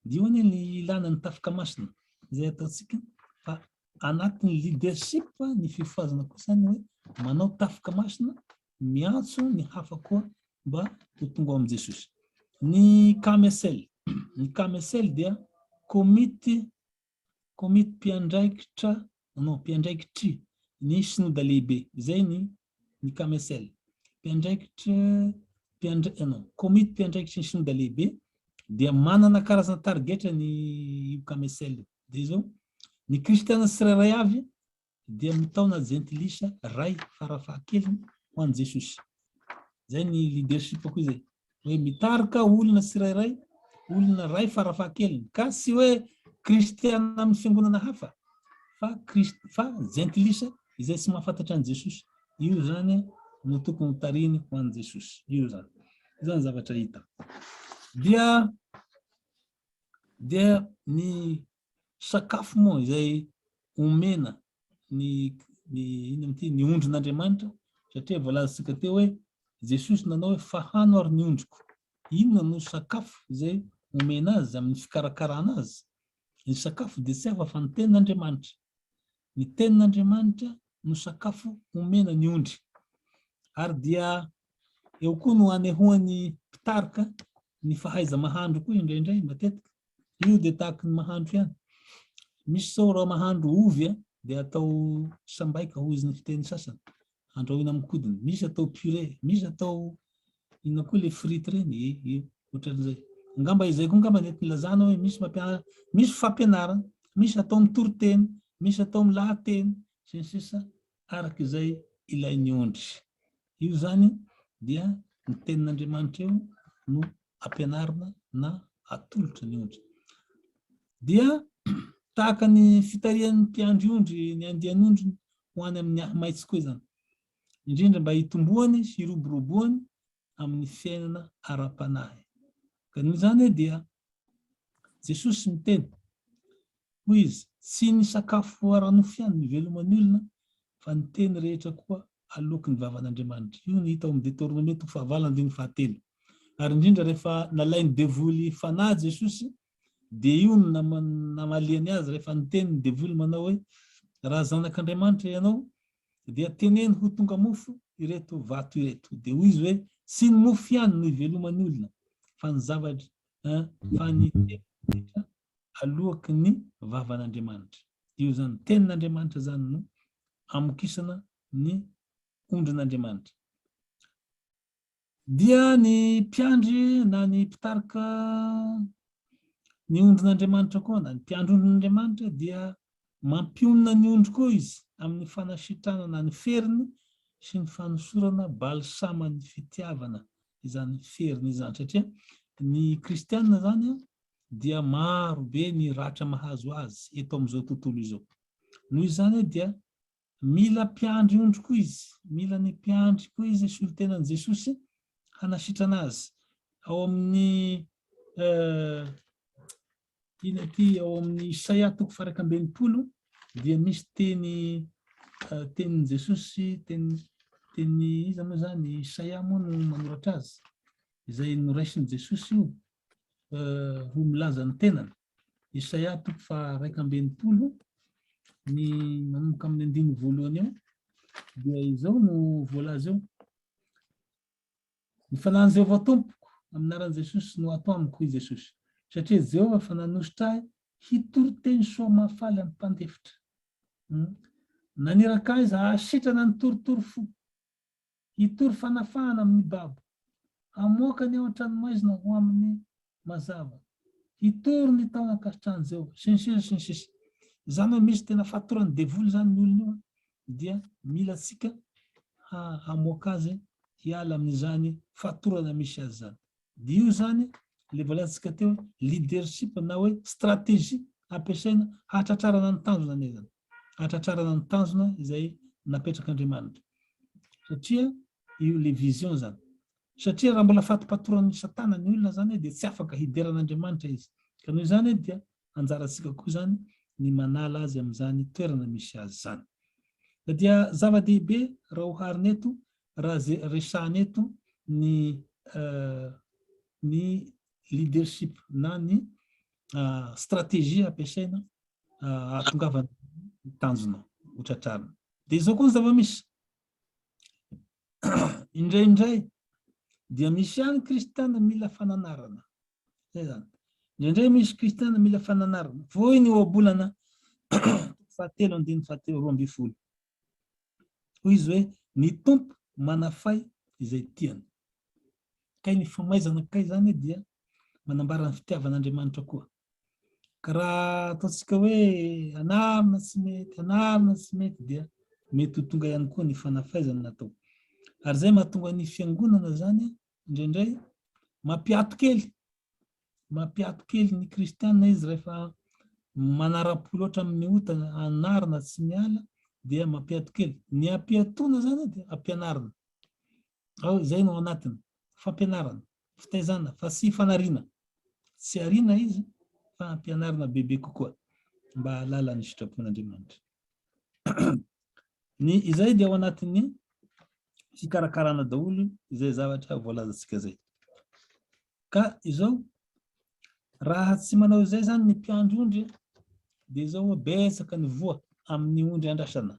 Io anie ny ilàna ny tafika masina, izay ataontsika, fa anatin'ny leadership ny fifohazana kosa ny hoe manao tafika masina, miantso ny hafa koa mba ho tonga ao amin'i Jesosy. Ny KMSL, ny KMSL dia komity Komity mpiandraikitra, non, mpiandraikitry ny Sinoda Lehibe, izay ny ny KMSL. Mpiandraikitra, mpiandra, eh, non, Komity mpiandraikitry ny Sinoda Lehibe dia manana karazana tarigetra ny io KMSL io. Dia izao, ny Kristiana tsirairay avy dia mitaona jentilisa ray farafahakeliny ho an'i Jesosy. Izay ny leadership-ko izay. Hoe mitarika olona tsirairay, olona ray farafahakeliny. Ka tsy hoe kristiana amin'ny fiangonana hafa, fa, Christ, fa jentilisa izay tsy mahafantatra an'i Jesosy. Io izany no tokony tariny ho an'i Jesosy. Io izany. Izany zavatra hita. Dia dia ny sakafo moa izay omena ny ny inona ity ny ondrin'Andriamanitra satria voalazantsika teo hoe Jesosy nanao hoe fahano ary ny ondriko inona no sakafo izay omena azy amin'ny fikarakarana azy ny sakafo dia tsy hafa fa ny tenin'Andriamanitra ny tenin'Andriamanitra no sakafo omena ny ondry ary dia eo koa no anehoan'ny mpitarika ny fahaiza-mahandro koa indraindray matetika Io dia tahaka ny mahandro ihany. Misy zao raha mahandro ovy a, dia atao sambaika hoy izy ny fiteny sasany. Andrahoina amin'ny kodiny. Misy atao purée, misy atao inona koa ilay frite ireny, eh, eh, ohatran'izay. Angamba izay koa angamba nety nilazana hoe misy mampianatra, misy fampianarana, misy atao amin'ny toriteny, misy atao amin'ny lahateny, sy ny sisa araka izay ilain'ny ondry. Io izany dia ny tenin'Andriamanitra io no ampianarina na atolotry ny ondry. Dia tahaka ny fitarihan'ny mpiandry ondry ny andian'ondriny ho any amin'ny ahimaitso koa izany, indrindra mba hitomboany sy hiroboroboany amin'ny fiainana ara-panahy. Ka noho izany dia Jesosy miteny Hoy izy, Tsy ny sakafo ara-nofo ihany no iveloma ny olona, fa ny teny rehetra koa aloaky ny vavan'Andriamanitra. Io no hita ao amin'ny Deteoronome toko fahavalo andininy fahatelo. Ary indrindra rehefa nalain'ny devoly fanahy Jesosy, dia io no namaliany azy rehefa niteny ny devoly manao hoe, Raha zanak'Andriamanitra ianao, dia teneno ho tonga mofo ireto vato ireto. Dia hoy izy hoe, Tsy ny mofo ihany no iveloma ny olona, fa ny zavatra, fa ny teny rehetra aloaky ny vavan'Andriamanitra. Io izany tenin'Andriamanitra izany no amokisana ny ondrin'Andriamanitra. Dia ny mpiandry na ny mpitarika ny ondrin'Andriamanitra koa na ny mpiandry ondrin'Andriamanitra dia mampionona ny ondry koa izy amin'ny fanasitrana na ny feriny sy ny fanosorana balsaman'ny fitiavana izany feriny izany satria ny kristianina izany dia maro be ny ratra mahazo azy eto amin'izao tontolo izao. Noho izany dia mila mpiandry ondry koa izy, mila ny mpiandry koa izy, solontenan'i Jesosy hanasitrana azy. Ao amin'ny ina ity ao amin'ny Isaia toko faraka ambin'ny polo dia misy teny tenin'i Jesosy teny teny iza moa izany Isaia moa no manoratra azy izay noraisin'i Jesosy io ho milaza ny tenany. Isaia toko faha iraika ambin'ny folo ny manomboka amin'ny andininy voalohany eo dia izao no voalaza eo. Ny fanahin'i Jehovah tompoko amin'ny anaran'i Jesosy no ato amiko i Jesosy. Satria Jehovah fa nanositra ahy hitory teny soa mahafaly amin'ny mpandefitra. Hmm. Naniraka ahy za hahasitrana ny torotoro fo. Hitory fanafahana amin'ny babo. Hamoaka ny ao an-tranomaizina ho amin'ny mazava. Hitory ny tao ankasitrahan'i Jehovah, sy ny sisa sy ny sisa. Izany hoe misy tena fatoran'ny devoly izany io olona io an, dia mila antsika hamoaka azy hiala amin'izany fatorana misy azy izany. Dia io izany ilay voalazantsika teo hoe leadership na hoe stratégie ampiasaina hahatratrarana ny tanjona anie izany. hatratrarana ny tanjona izay napetrak'Andriamanitra. Satria io le vision zany. Satria raha mbola fatipatoran'ny satana ny olona zany dia tsy afaka hidera an'Andriamanitra izy. Ka noho izany dia anjarantsika koa zany ny manala azy amin'izany toerana misy azy zany. Na dia zava-dehibe raha oharina eto, raha ze resahana eto ny ny leadership na ny stratégie ampiasaina ahatongavana ny tanjona ho tratrarina. Dia izao koa ny zava-misy. Indraindray dia misy ihany kristiana mila fananarana. Zay zany. Indraindray misy kristiana mila fananarana. Voiny eo abolana fahatelo andiny fahatelo roa ambin'ny folo. Hoy izy hoe ny tompo manafay izay tiany. Kay ny famaizana kay zany dia manambara ny fitiavan'Andriamanitra koa. Ka raha ataontsika hoe anarina tsy mety, anarina tsy mety dia mety ho tonga ihany koa ny fanafaizana natao. Ary izay mahatonga ny fiangonana izany indraindray mampiato kely, mampiato kely ny kristiana izy rehefa manara-po loatra amin'ny ota anarina tsy miala dia mampiato kely. Ny ampiatoana izany dia ampianarina. Ao izay no anatiny. fampianarana, fitaizana, fa tsy fanariana. Tsy ariana izy fa ampianarina bebe kokoa mba hahalala ny sitrapon'Andriamanitra. Ny izay dia ao anatin'ny fikarakarana daholo izay zavatra voalazantsika izay. Ka izao, raha tsy manao izay izany ny mpiandry ondry, dia izao betsaka ny voa amin'ny ondry andrasana.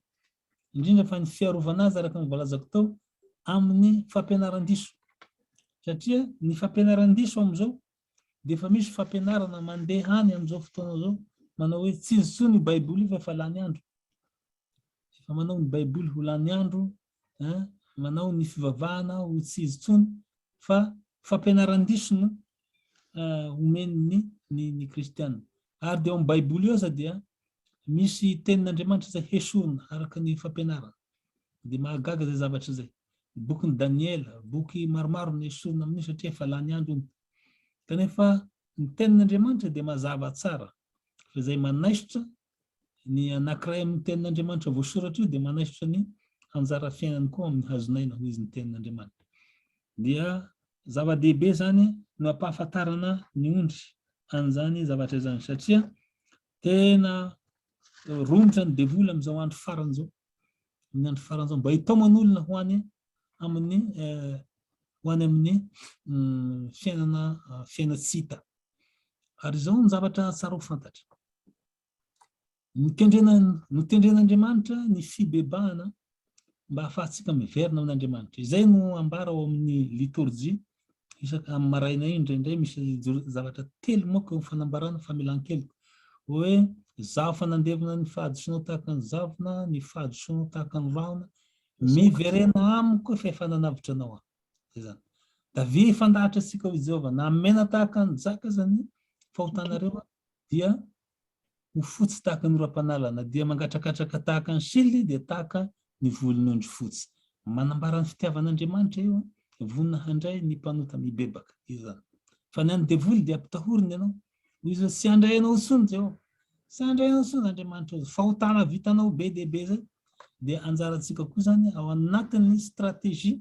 indrindra fa ny fiarovana azy araka ny voalazako tao amin'ny fampianaran-diso satria ny fampianaran-diso amin'izao dia efa misy fampianarana mandeha any amin'izao fotoana izao manao hoe tsy izy tsoa ny baiboly fa efa lany andro efa manao ny baiboly ho lany andro manao ny fivavahana ho tsy izy tsony fa fampianaran-diso no omen'ny ny ny kristiana. Ary dia ao amin'ny baiboly io aza dia misy tenin'Andriamanitra izay hesorina araka ny fampianarana. Dia mahagaga izay zavatra izay. Ny bokin'i Daniela, boky maromaro no hesorina amin'io satria efa lany andro iny. Kanefa ny tenin'Andriamanitra dia mazava tsara fa izay manaisotra Ny anankiray amin'ny Tenin'Andriamanitra voasoratra io dia manaisotra ny hanjara fiainany koa ao amin'ny hazon'aina, hoy izy, ny Tenin'Andriamanitra. Dia zava-dehibe izany ny mampahafantarana ny ondry an'izany zavatra izany, satria tena romotra ny devoly amin'izao andro farany izao, amin'ny andro farany izao, mba hitaomany olona ho any amin'ny eh, ho any amin'ny mm, fiainana ah, fiaina tsy hita. Ary izao ny zavatra tsara ho fantatra. Notendren'Andriamanitra ny fibebahana mba hahafahantsika miverina amin'Andriamanitra. Izay no ambara ao amin'ny litorjia isaka amin'ny maraina iny indraindray misy zavatra telo moka eo fanambarana famelan-keloka. Hoe zaho fanandevina ny fahadisoanao tahaka ny zavona, ny fahadisoanao tahaka ny rahona, miverena amiko fa efa nanavotra anao aho. Zay zany. Davia fandahatra antsika ho Jehovah, namena tahaka ny jaka zany fahotanareo dia ho fotsy tahaka ny oram-panalana, dia mangatrakatraka tahaka ny sily, dia tahaka ny volon'ondry fotsy. Manambara ny fitiavan'Andriamanitra io, vonona handray ny mpanota mibebaka. Io zany. Fa ny an'ny devoly dia ampitahoriny ianao. Hoy izy hoe tsy handray anao intsony Jehovah. Tsy handray anao intsony Andriamanitra. Fahotana vitanao be dia be zay. Dia anjarantsika koa zany ao anatin'ny stratégie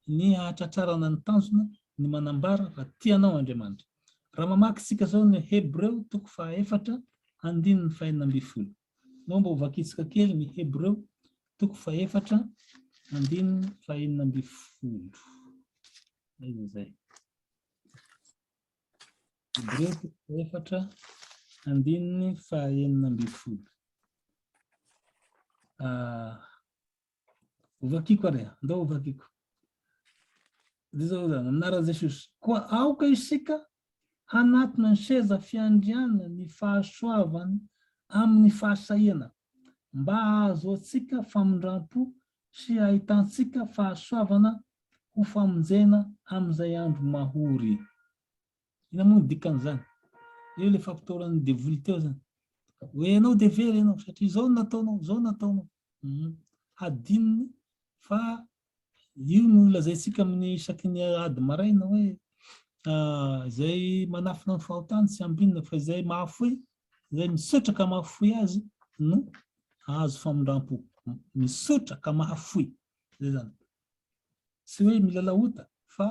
ny hahatratrarana ny tanjona ny manambara fa tia anao Andriamanitra. Raha mamaky isika izao ny Hebreo toko fahaefatra andininy fahenina ambin'ny folo. Moa mba hovakitsika kely ny Hebreo toko fahaefatra andininy fahenina ambin'ny folo. Aiza izay? Hebreo toko fahaefatra andininy fahenina ambin'ny folo. Ah, Hovakiko ary, ndao hovakiko. Dia zao zany, anaran'i Jesosy. Koa aoka isika hanatona ny seza fiandriana ny fahasoavany amin'ny fahasahiana, mba hahazoantsika famindram-po sy hahitantsika fahasoavana ho famonjena amin'izay andro mahory. Inona moa ny dikan'izany? Eo ilay fampitahorana devoly teo izany. Hoe ianao dia very ianao, satria izao no nataonao, izao no nataonao. Hmm. Hadinony fa io no lazaintsika amin'ny isaky ny ady maraina hoe ah, izay manafina ny fahotany tsy ambinina fa izay mahafoy, izay misaotra ka mahafoy azy no ahazo famindram-po. Misaotra ka mahafoy. Izay izany. Tsy hoe milalao ota fa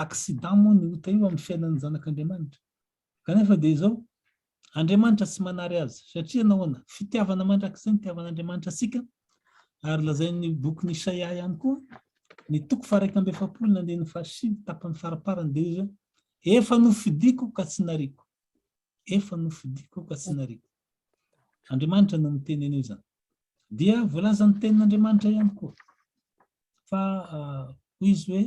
accident moa ny ota io amin'ny fiainan'ny zanak'Andriamanitra. Kanefa dia izao, Andriamanitra tsy manary azy. Satria nahoana? Fitiavana mandrakizay ny itiavan'Andriamanitra antsika, ary lazain'ny bokin'i Isaia ihany koa, ny toko faharaika amby efapolo ny andininy fahasivy, tapany faramparany, dia hoy izy hoe, Efa nofidiko ka tsy nariako. Efa nofidiko ka tsy nariako. Andriamanitra no miteny an'io zany. Dia voalazan'ny tenin'Andriamanitra ihany koa fa hoy izy hoe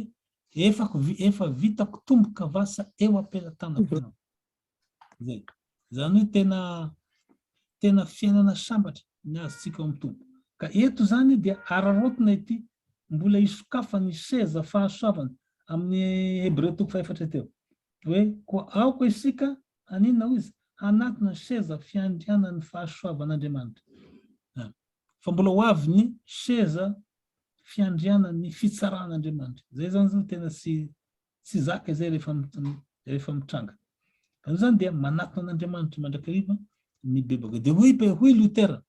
efa efa vitako tomboka vasa eo am-pelatanako ianao. Zay. Zany hoe tena tena fiainana sambatra ny azontsika ao amin'ny Tompo. Ka eto zany dia araraotina ity mbola isokafan'ny seza fahasoavana amin'ny Hebreo toko fahefatra teo. Hoe koa aoka isika Haninona hoy izy? Hanatona ny seza fiandrianan'ny fahasoavan'Andriamanitra. A. Fa mbola ho avy ny seza fiandrianan'ny fitsaran'Andriamanitra. Izay izany izao tena tsy tsy zaka izay rehefa rehefa mitranga. Ka noho izany dia manatona an'Andriamanitra mandrakariva ny bebaka. Dia hoy hoy Luther,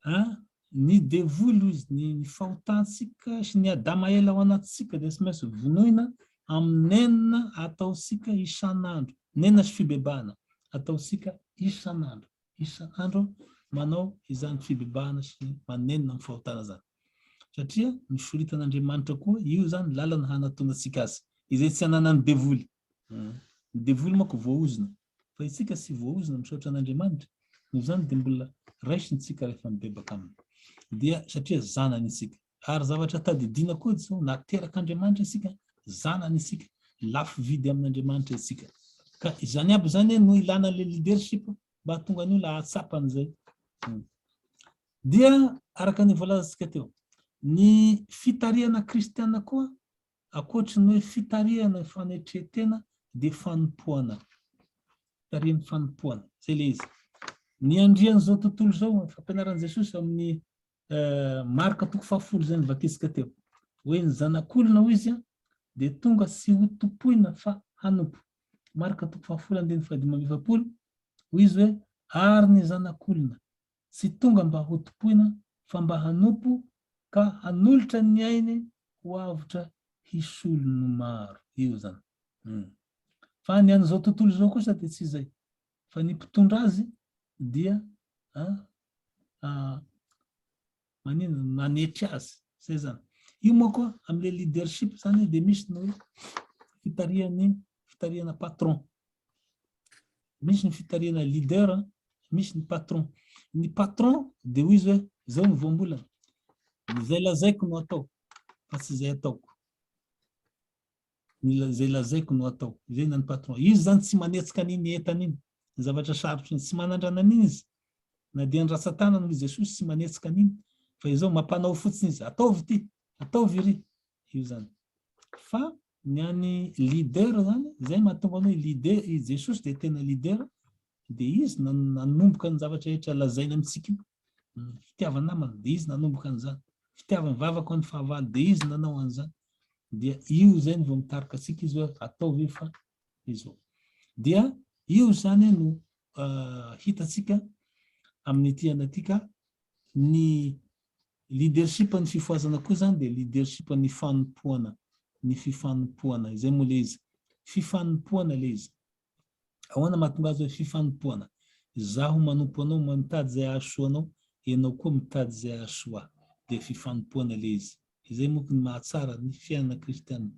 A, Ny devoly hoy izy, ny ny fahotantsika sy ny Adama ela ao anatintsika dia tsy maintsy vonoina amin'ny nenina ataontsika isan'andro, nenina sy fibebahana ataontsika isan'andro, isan'andro manao izany fibebahana sy manenina amin'ny fahotana izany. Satria nosoritan'Andriamanitra koa io izany lalana hanatonantsika azy, izay tsy ananan'ny devoly. Ny devoly manko voaozona fa isika sy voaozona misaotra an'Andriamanitra noho izany dia mbola raisintsika rehefa mibebaka aminy dia satria zanany isika ary zavatra tadidiana koa izao na terak'Andriamanitra isika zanany isika lafo vidy amin'Andriamanitra isika ka izany aby izany no ilana le leadership mba hatonga ny olona hahatsapa an'izay hmm. dia araka ny voalazantsika teo ny fitarihana kristiana koa Ankoatry ny hoe fitarihana ny fanetren-tena dia fanompoana, tarihin'ny fanompoana. Izay ilay izy. Ny andrian'izao tontolo izao, ny fampianaran'i Jesosy amin'ny Marka toko fahafolo izay novakisintsika teo. Hoe ny zanak'olona, hoy izy, dia tonga tsy ho tompoina fa hanompo. Marka toko fahafolo andininy fahadimy amby efapolo, hoy izy hoe, ary ny zanak'olona Tsy tonga mba hotompoina fa mba hanompo ka hanolotra ny ainy ho avotra hisolo ny maro. Io izany. Humm. Fa ny an'izao tontolo izao kosa dia tsy izay. Fa ny mpitondra azy dia a a Maninona no nanetry azy? Zay zany. Io manko amle leadership zany dia misy ny hoe fitarihan'ny fitarihana patron. Misy ny fitarihana leader, misy ny patron. Ny patron dia hoy izy hoe zao ny voambolana. Izay lazaiko no atao fa tsy izay ataoko. izay lazaiko no atao, izay ny an'ny patron. Izy izany tsy manetsika an'iny entana iny, ny zavatra sarotro iny, tsy manandrana an'iny izy, na dia ny ratsan-tanany hoy Jesosy tsy manetsika an'iny, fa izao mampanao fotsiny izy, ataovy ity, ataovy iry, io izany. Fa ny an'ny leader izany, izay mahatonga anao i leader, i Jesosy dia tena leader, dia izy nanomboka ny zavatra rehetra lazainy amintsika io. fitiavan namana dia izy nanomboka an'izany fitiavan vavako an'ny fahavalo dia izy nanao an'izany dia io zay ny vao mitarika antsika izy hoe atao ve fa izao dia io zany no uh, hitatsika amin'ny tiana tika ny leadership ny fifoazana koa zany dia leadership ny fanompoana ny fifanompoana izay moa le izy fifanompoana le izy Ahoana mahatonga azy hoe fifanompoana? Izaho manompo anao, mitady izay hahasoa anao, ianao koa mitady izay hahasoa ahy. Dia fifanompoana ilay izy. Izay manko no mahatsara ny fiainana kristiana,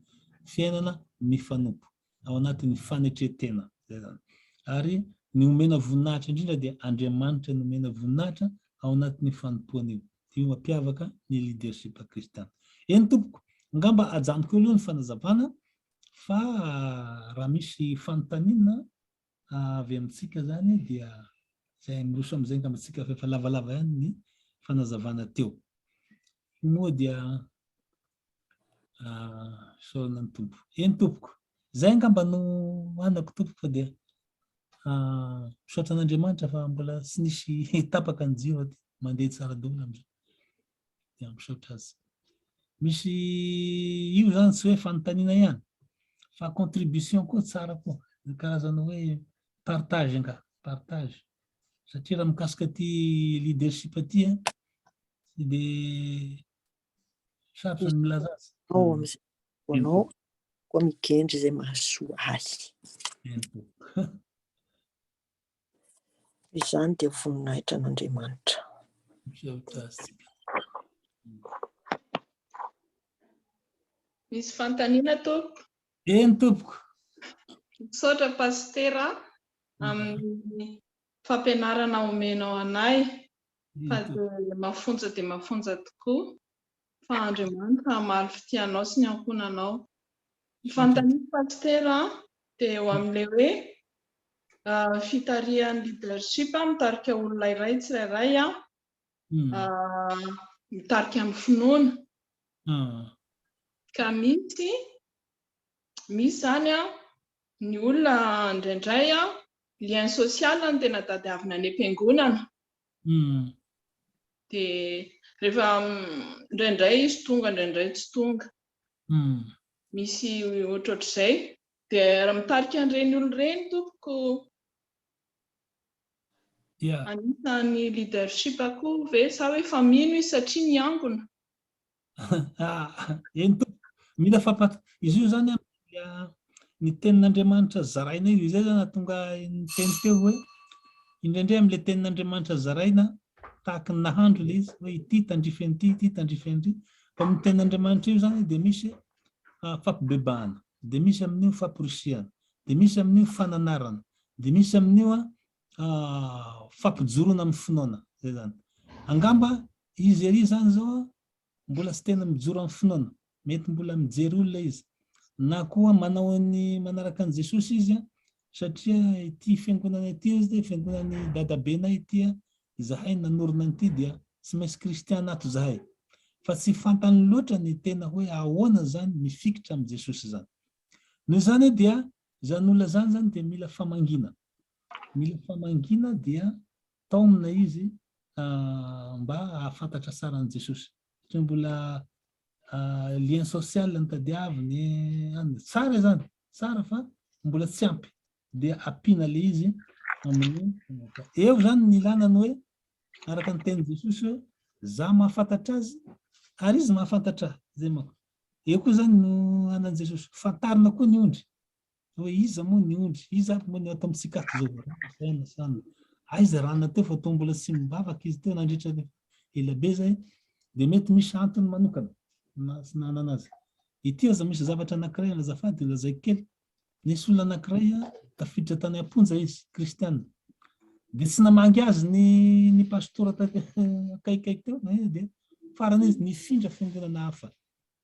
fiainana mifanompo ao anatin'ny fanetren-tena. Izay izany. Ary ny omena voninahitra indrindra dia Andriamanitra no omena voninahitra ao anatin'io fanompoana io. Dia io mampiavaka ny leadership kristiana. Eny tompoko, angamba ajanoko eo aloha ny fanazavana Fa raha misy fanontaniana avy amintsika zany dia zay miroso amizay ngamba tsika fa efa lavalava ihany ny fanazavana teo. Moa dia isaorana ny Tompo. Eny tompoko. Zay ngamba no anako tompoko fa dia misaotra an'Andriamanitra fa mbola tsy nisy tapaka ny jiro aty. Mandeha tsara daholo amizao. dia misaotra azy. Misy io zany tsy hoe fanontaniana ihany fa contribution koa tsara koa ny karazana hoe partage nga partage satria raha mikasika ty leadership aty a dia sarotra ny milaza azy. Ao amin'izay anao koa migendry izay mahasoa ahy. Izany dia voninahitra an'Andriamanitra. Misy fanontaniana tompoko? Eny tompoko. Misaotra Pasitera amin'ny fampianarana omenao anay fa dia mafonja dia mafonja tokoa. fa Andriamanitra hamaly fitianao sy ny ankohonanao. Ny fanontaniako Pasitera dia eo amin'ilay hoe fitarihan'ny leadership mitarika olona iray tsirairay mitarika ny finoana. Ka misy misy izany ny olona indraindray lien social no tena tadiavina any am-piangonana Dia rehefa indraindray izy tonga, indraindray tsy tonga. Misy ohatrohatr'izay. Dia raha mitarika an'ireny olona ireny tompoko, anisan'ny leadership koa ve sa hoe efa mino izy satria niangona? Eny Tompo, mila fampat. Izy io zany dia ny tenin'Andriamanitra zaraina io, izay zany ahatonga ny teny teo hoe indraindray amin'ilay tenin'Andriamanitra zaraina tahaka ny nahandro ilay izy hoe ity tandrify an'ity, ity tandrify an'ity. Fa amin'ny tenin'Andriamanitra io zany dia misy fampibebahana, dia misy amin'io famporisihana, dia misy amin'io fananarana, dia misy amin'io fampijoroana amin'ny finoana, zay zany. Angamba izy ery zany zao mbola tsy tena mijoro amin'ny finoana, mety mbola mijery olona izy, na koa manao ny manaraka an'i Jesosy izy satria ity fiangonana ity hoy izy dia fiangonan'ny dadabenay ity, izahay no nanorina an'ity dia tsy maintsy kristiana ato izahay. Fa tsy fantany loatra ny tena hoe ahoana zany mifikitra amin'i Jesosy zany. Noho izany dia Izany nolazany izany dia mila famangiana. Mila famangiana dia taomina izy mba hahafantatra tsara an'i Jesosy. Satria mbola lien social no tadiaviny. Tsara izany, tsara fa mbola tsy ampy. Dia ampiana ilay izy amin'ny eo izany ny ilana ny hoe araka ny tenin'i Jesosy hoe za mahafantatra azy ary izy mahafantatra ahy. Izay manko. Eo koa izany no anan'i Jesosy. Fantarina koa ny ondry. Hoe iza moa ny ondry? Iza ary moa ny ao tamin'ny tsikaritra izao vahoaka izany? Aiza raha na teo fa toa mbola tsy mivavaka izy teo nandritra ny ela be izay, dia mety misy antony manokana na tsy nanana azy. Ity aza misy zavatra anankiray any azafady lazaiko kely Nisy olona anankiray tafiditra tany am-ponja izy, kristiana. Dia tsy namangy azy ny ny pastora akaikikaiky teo, eh, dia farany izy nifindra fiangonana hafa.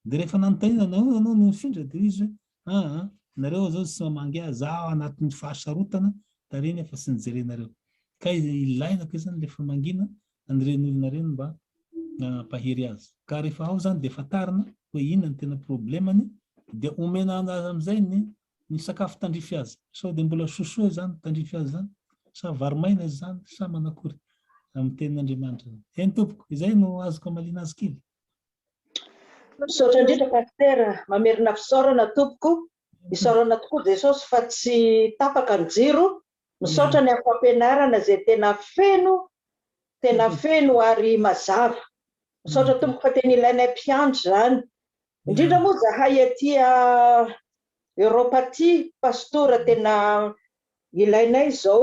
Dia rehefa nanontaniana na hoy ianao no nifindra, dia izy hoe, ah, ah nareo zao tsy mamangy ahy, za anatin'ny fahasarotana tariana fa tsy nijerenareo. Ka ilaina koa izany le famangiana an'ireny olona ireny mba hampahery azy. Ka rehefa ao izany dia fantarina hoe inona ny tena problemany dia omena azy amin'izay ny ny sakafo tandrify azy. Sao dia mbola sosoa izany tandrify azy izany, sa vary maina izany, sa manakory amin'ny tenin'Andriamanitra izany. Eny tompoko, izay no azoko hamaliana azy kely. Misaotra indrindra Pasitera, mamerina fisaorana tompoko. Isaorana tokoa Jesosy fa tsy tapaka ny jiro Misaotra ny am fampianarana izay tena feno tena feno ary mazava. Misaotra tompoko fa tena ilainay mpiandry izany. Indrindra moa zahay aty a Europe aty pastora tena ilainay izao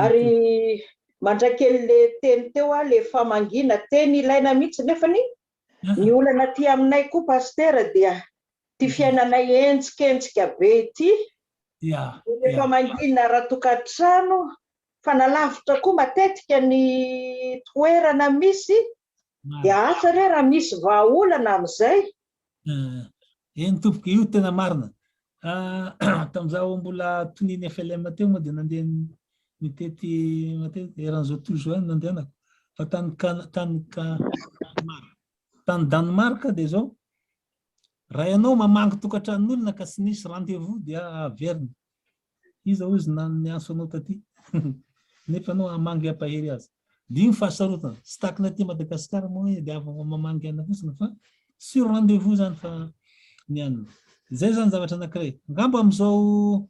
ary mandrakely le teny teo aho le famangiana teny ilaina mihitsy nefany Ny olana aty aminay koa Pasitera dia ity fiainanay henjikenjika be ity, rehefa mangina raha tokantrano fa na lavitra koa matetika ny toerana misy dia asa re raha misy vahaolana amin'izay. Eny tompoko, io tena marina. Tamin'izaho mbola tonian'ny FLM teo moa dia nandeha nitety matety eran'izao tontolo izao nandehanako. Fa tany tany tany Danemark dia izao. Raha ianao mamangy tokantranon'olona ka tsy nisy rendez-vous dia averina. Iza hozy na niantso anao taty. Nefa anao hamangy hampahery azy. Dia io ny fahasarotana. Tsy tahaka ny aty Madagasikara moa hoe dia avy ao Mamangiana fotsiny fa sur rendez-vous izany fa ny any. Izay izany zavatra anankiray. Angamba amin'izao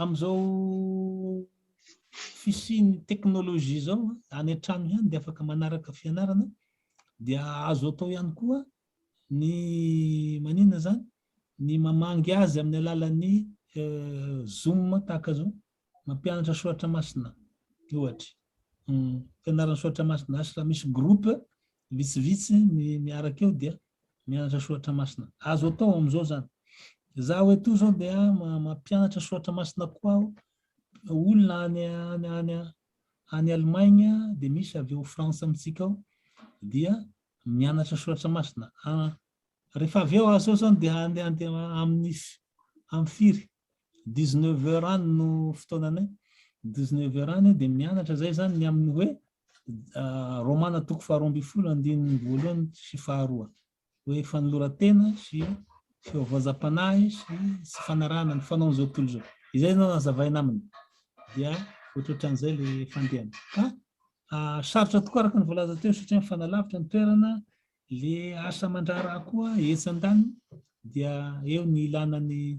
amin'izao fisian'ny teknolojia izao any an-trano ihany dia afaka manaraka fianarana dia azo atao ihany koa ny maninona izany ny mamangy azy amin'ny alalan'ny zoom tahaka izao. Mampianatra soratra masina ohatry fianarana soratra masina asy raha misy groupe vitsivitsy miaraka eo dia mianatra soratra masina azo atao amin'izao zany za hoe to zao dia mampianatra soratra masina koa aho olona any any any any Allemagne dia misy avy ao France amintsika ao dia mianatra soratra masina Rehefa avy eo aza eo zany dia handeha handeha amin'ny amin'ny firy? dix neuf heures any no fotoananay, dix neuf heures any dia mianatra zay zany ny amin'ny hoe Romana toko faharoa ambin'ny folo andininy voalohany sy faharoa hoe fanoloran-tena sy fivaozam-panahy sy tsy fanarahana ny fanaon'izao tontolo izao. Izay no nazavaina aminy. Dia ohatrohatran'izay le fandehany. Ka sarotra tokoa araka ny voalaza teo satria mifanalavitra ny toerana, Ilay asa aman-draharaha koa etsy an-daniny dia eo ny ilana ny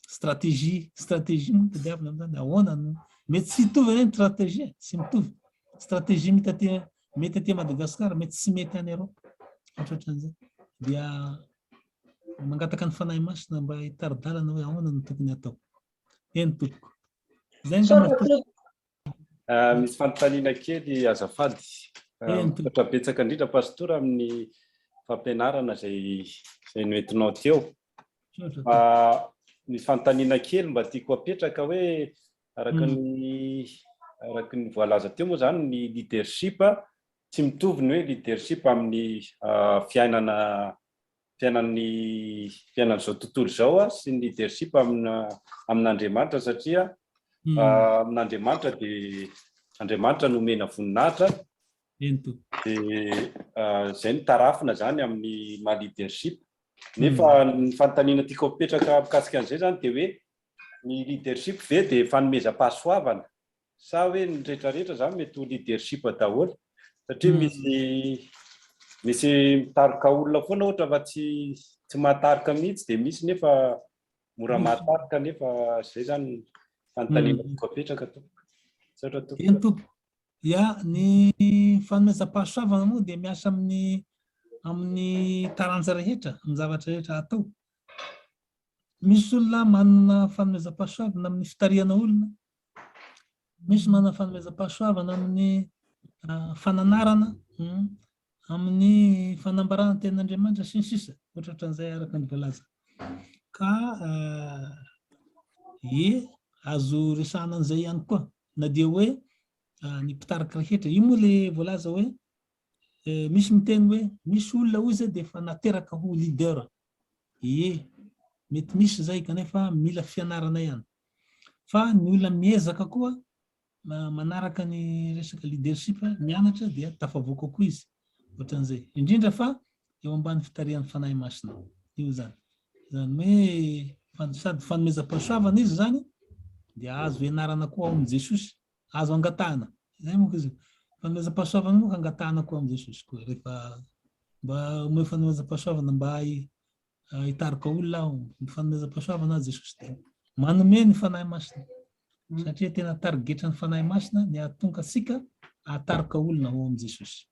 stratégie. Stratégie moa tadiavina amin'izany, ahoana no mety tsy hitovy anie ny stratégie, tsy mitovy. Stratégie mety aty mety aty Madagasikara, mety tsy mety any Europe. Ohatran'izay. Dia mangataka ny fanahy masina mba hitari-dalana hoe ahoana no tokony atao. Eny tompoko. Izay angamba Ah, misy fanontaniana kely azafady. Ah, Misaotra betsaka indrindra pastora amin'ny fampianarana izay izay noentinao teo. Fa ah, misy fanontaniana kely mba tiako apetraka hoe araka hmm. ny araka ny voalaza teo moa izany ny leadership tsy mitovy ny hoe leadership amin'ny fiainana fiainan'ny fiainan'izao tontolo izao sy ny leadership amina amin'Andriamanitra satria amin'Andriamanitra dia Andriamanitra no omena voninahitra Ento. dia izay no tarafina izany amin'ny maha leadership nefa ny fanontaniana tiako apetraka mikasika an'izay izany dia hoe ny leadership ve dia fanomezam-pahasoavana Sa hoe ny rehetra rehetra izany mety ho leadership daholo? Satria misy misy mitarika olona foana ohatra fa tsy tsy mahatarika mihitsy dia misy nefa mora mahatarika nefa izay izany fanontaniana toko apetraka tompoko. Misaotra tompoko. Eny tompoko. Ya, ny fanomezam-pahasoavana moa dia miasa amin'ny amin'ny taranja rehetra, amin'ny zavatra rehetra atao. Misy olona manana fanomezam-pahasoavana amin'ny fitarihana olona, Misy manana fanomezam-pahasoavana amin'ny fananarana, amin'ny fanambarana ny tenin'Andriamanitra, sy ny sisa, ohatra ohatran'izay araka ny voalaza. Ka ie azo resahana an'izay ihany koa, na dia hoe ny mpitarika rehetra. Io moa ilay voalaza hoe Misy miteny hoe misy olona hoy izay dia efa nateraka ho leader. Ie, mety misy izay kanefa mila fianarana ihany. Fa ny olona miezaka koa manaraka ny resaka leadership, mianatra dia tafavoaka koa izy. Ohatran'izay. Indrindra fa eo ambany fitarihan'ny Fanahy Masina. Io izany. Izany hoe sady fanomezam-pahasoavana izy izany dia azo ianarana koa ao amin'i Jesosy. Azo angatahana. Izay manko izy io. Fanomezam-pahasoavana manko angatahana koa amin'i Jesosy koa. Rehefa mba omeo fanomezam-pahasoavana mba hitarika olona aho. Ny fanomezam-pahasoavana aho Jesosy dia manome ny Fanahy Masina. Satria tena tarigetran'ny Fanahy Masina ny hahatonga antsika hahatarika olona ho amin'i Jesosy.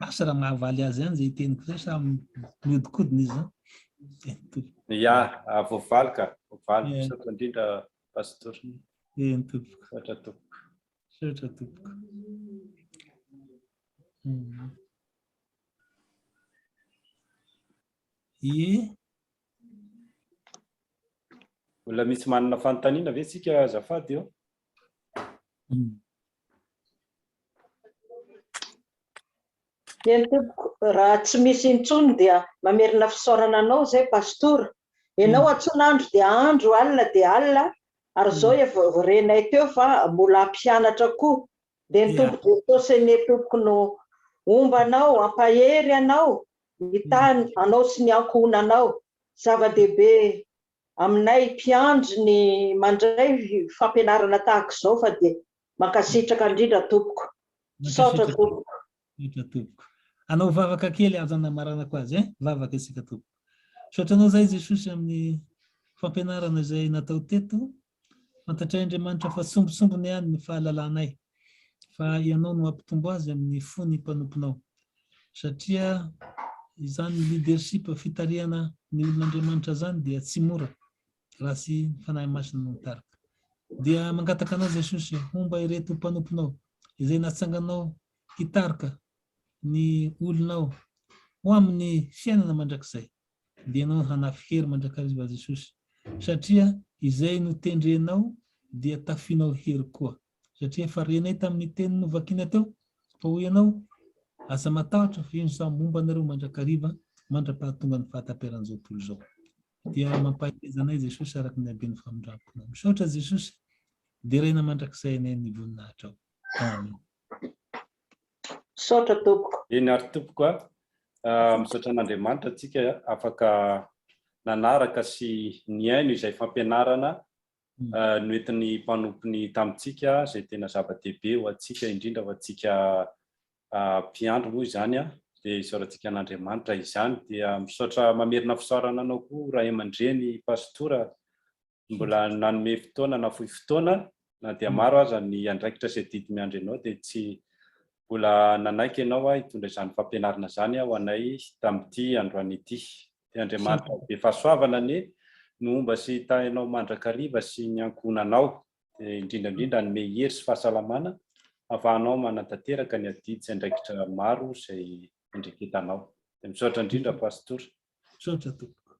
Asa raha mahavaly azy ihany izay teniko izay sa mihodinkodina izy izany. Ya, voavaly ka. Voavaly. Misaotra indrindra Pasteur. Eny tompoko. Misaotra tompoko. Misaotra tompoko. Hmm. Ie. Mbola misy manana fanontaniana ve tsika azafady eo? Hmm. Eny tompoko, raha tsy misy intsony dia mamerina fisaorana anao zay pastora, enao antsona andro dia andro alina dia alina ary zao efa renay teo fa mbola hampianatra koa dia ny Tompo Jesosy anie tompoko no homba anao hampahery anao hitahy anao sy ny ankohonanao, zava-dehibe aminay mpiandry ny mandray fampianarana tahaka izao fa dia Mankasitraka indrindra tompoko. Misaotra tompoko. Misaotra tompoko. Alao vavaka kely aza namaranako azy eh. Vavaka isika tompoko. Misaotra anao zahay Jesosy amin'ny fampianarana izay natao teto. Fantatray Andriamanitra fa sombintsombiny ihany ny fahalalanay fa ianao no hampitombo azy amin'ny fo ny mpanomponao. Satria izany leadership fitarihana ny olon'Andriamanitra zany dia tsy mora. Raha tsy ny Fanahy Masina no mitarika. Dia mangataka anao Jesosy homba ireto mpanomponao izay natsanganao hitarika ny olonao ho amin'ny fiainana mandrakizay. Dia ianao no hanafy hery mandrakariva Jesosy, satria izay notendrenao dia tafianao hery koa. Satria efa renay tamin'ny teny novakina teo fa hoy ianao, Aza matahotra, fa io ny saha momba anareo mandrakariva, mandra-pahatongan'ny fahataperan'izao tontolo izao. Dia mampahereza anay Jesosy araka ny haben'ny famindram-ponao. Misaotra Jesosy, deraina mandrakizay anay ny voninahitrao. Amen. Misaotra tompoko. Eny ary tompoko a. Misaotra an'Andriamanitra tsika afaka nanaraka sy nihaino izay fampianarana noentin'ny mpanompony tamintsika izay tena zava-dehibe ho antsika, indrindra ho antsika mpiandry moa izany dia isaorantsika an'Andriamanitra izany. Dia misaotra mamerina fisaorana anao koa ray aman-dreny Pastora mbola nanome fotoana nafoy fotoana na dia maro aza ny andraikitra sy adidy miandry anao dia tsy mbola nanaiky ianao hitondra izany fampianarana izany ho anay tamin'ity androany ity. dia Andriamanitra be fahasoavana anie no homba sy hitahy anao mandrakariva sy ny ankohonanao, dia indrindra indrindra hanome hery sy fahasalamana hahafahanao manatanteraka ny adidy sy andraikitra maro izay andreketanao. Dia misaotra indrindra Pastora. Misaotra tompoko.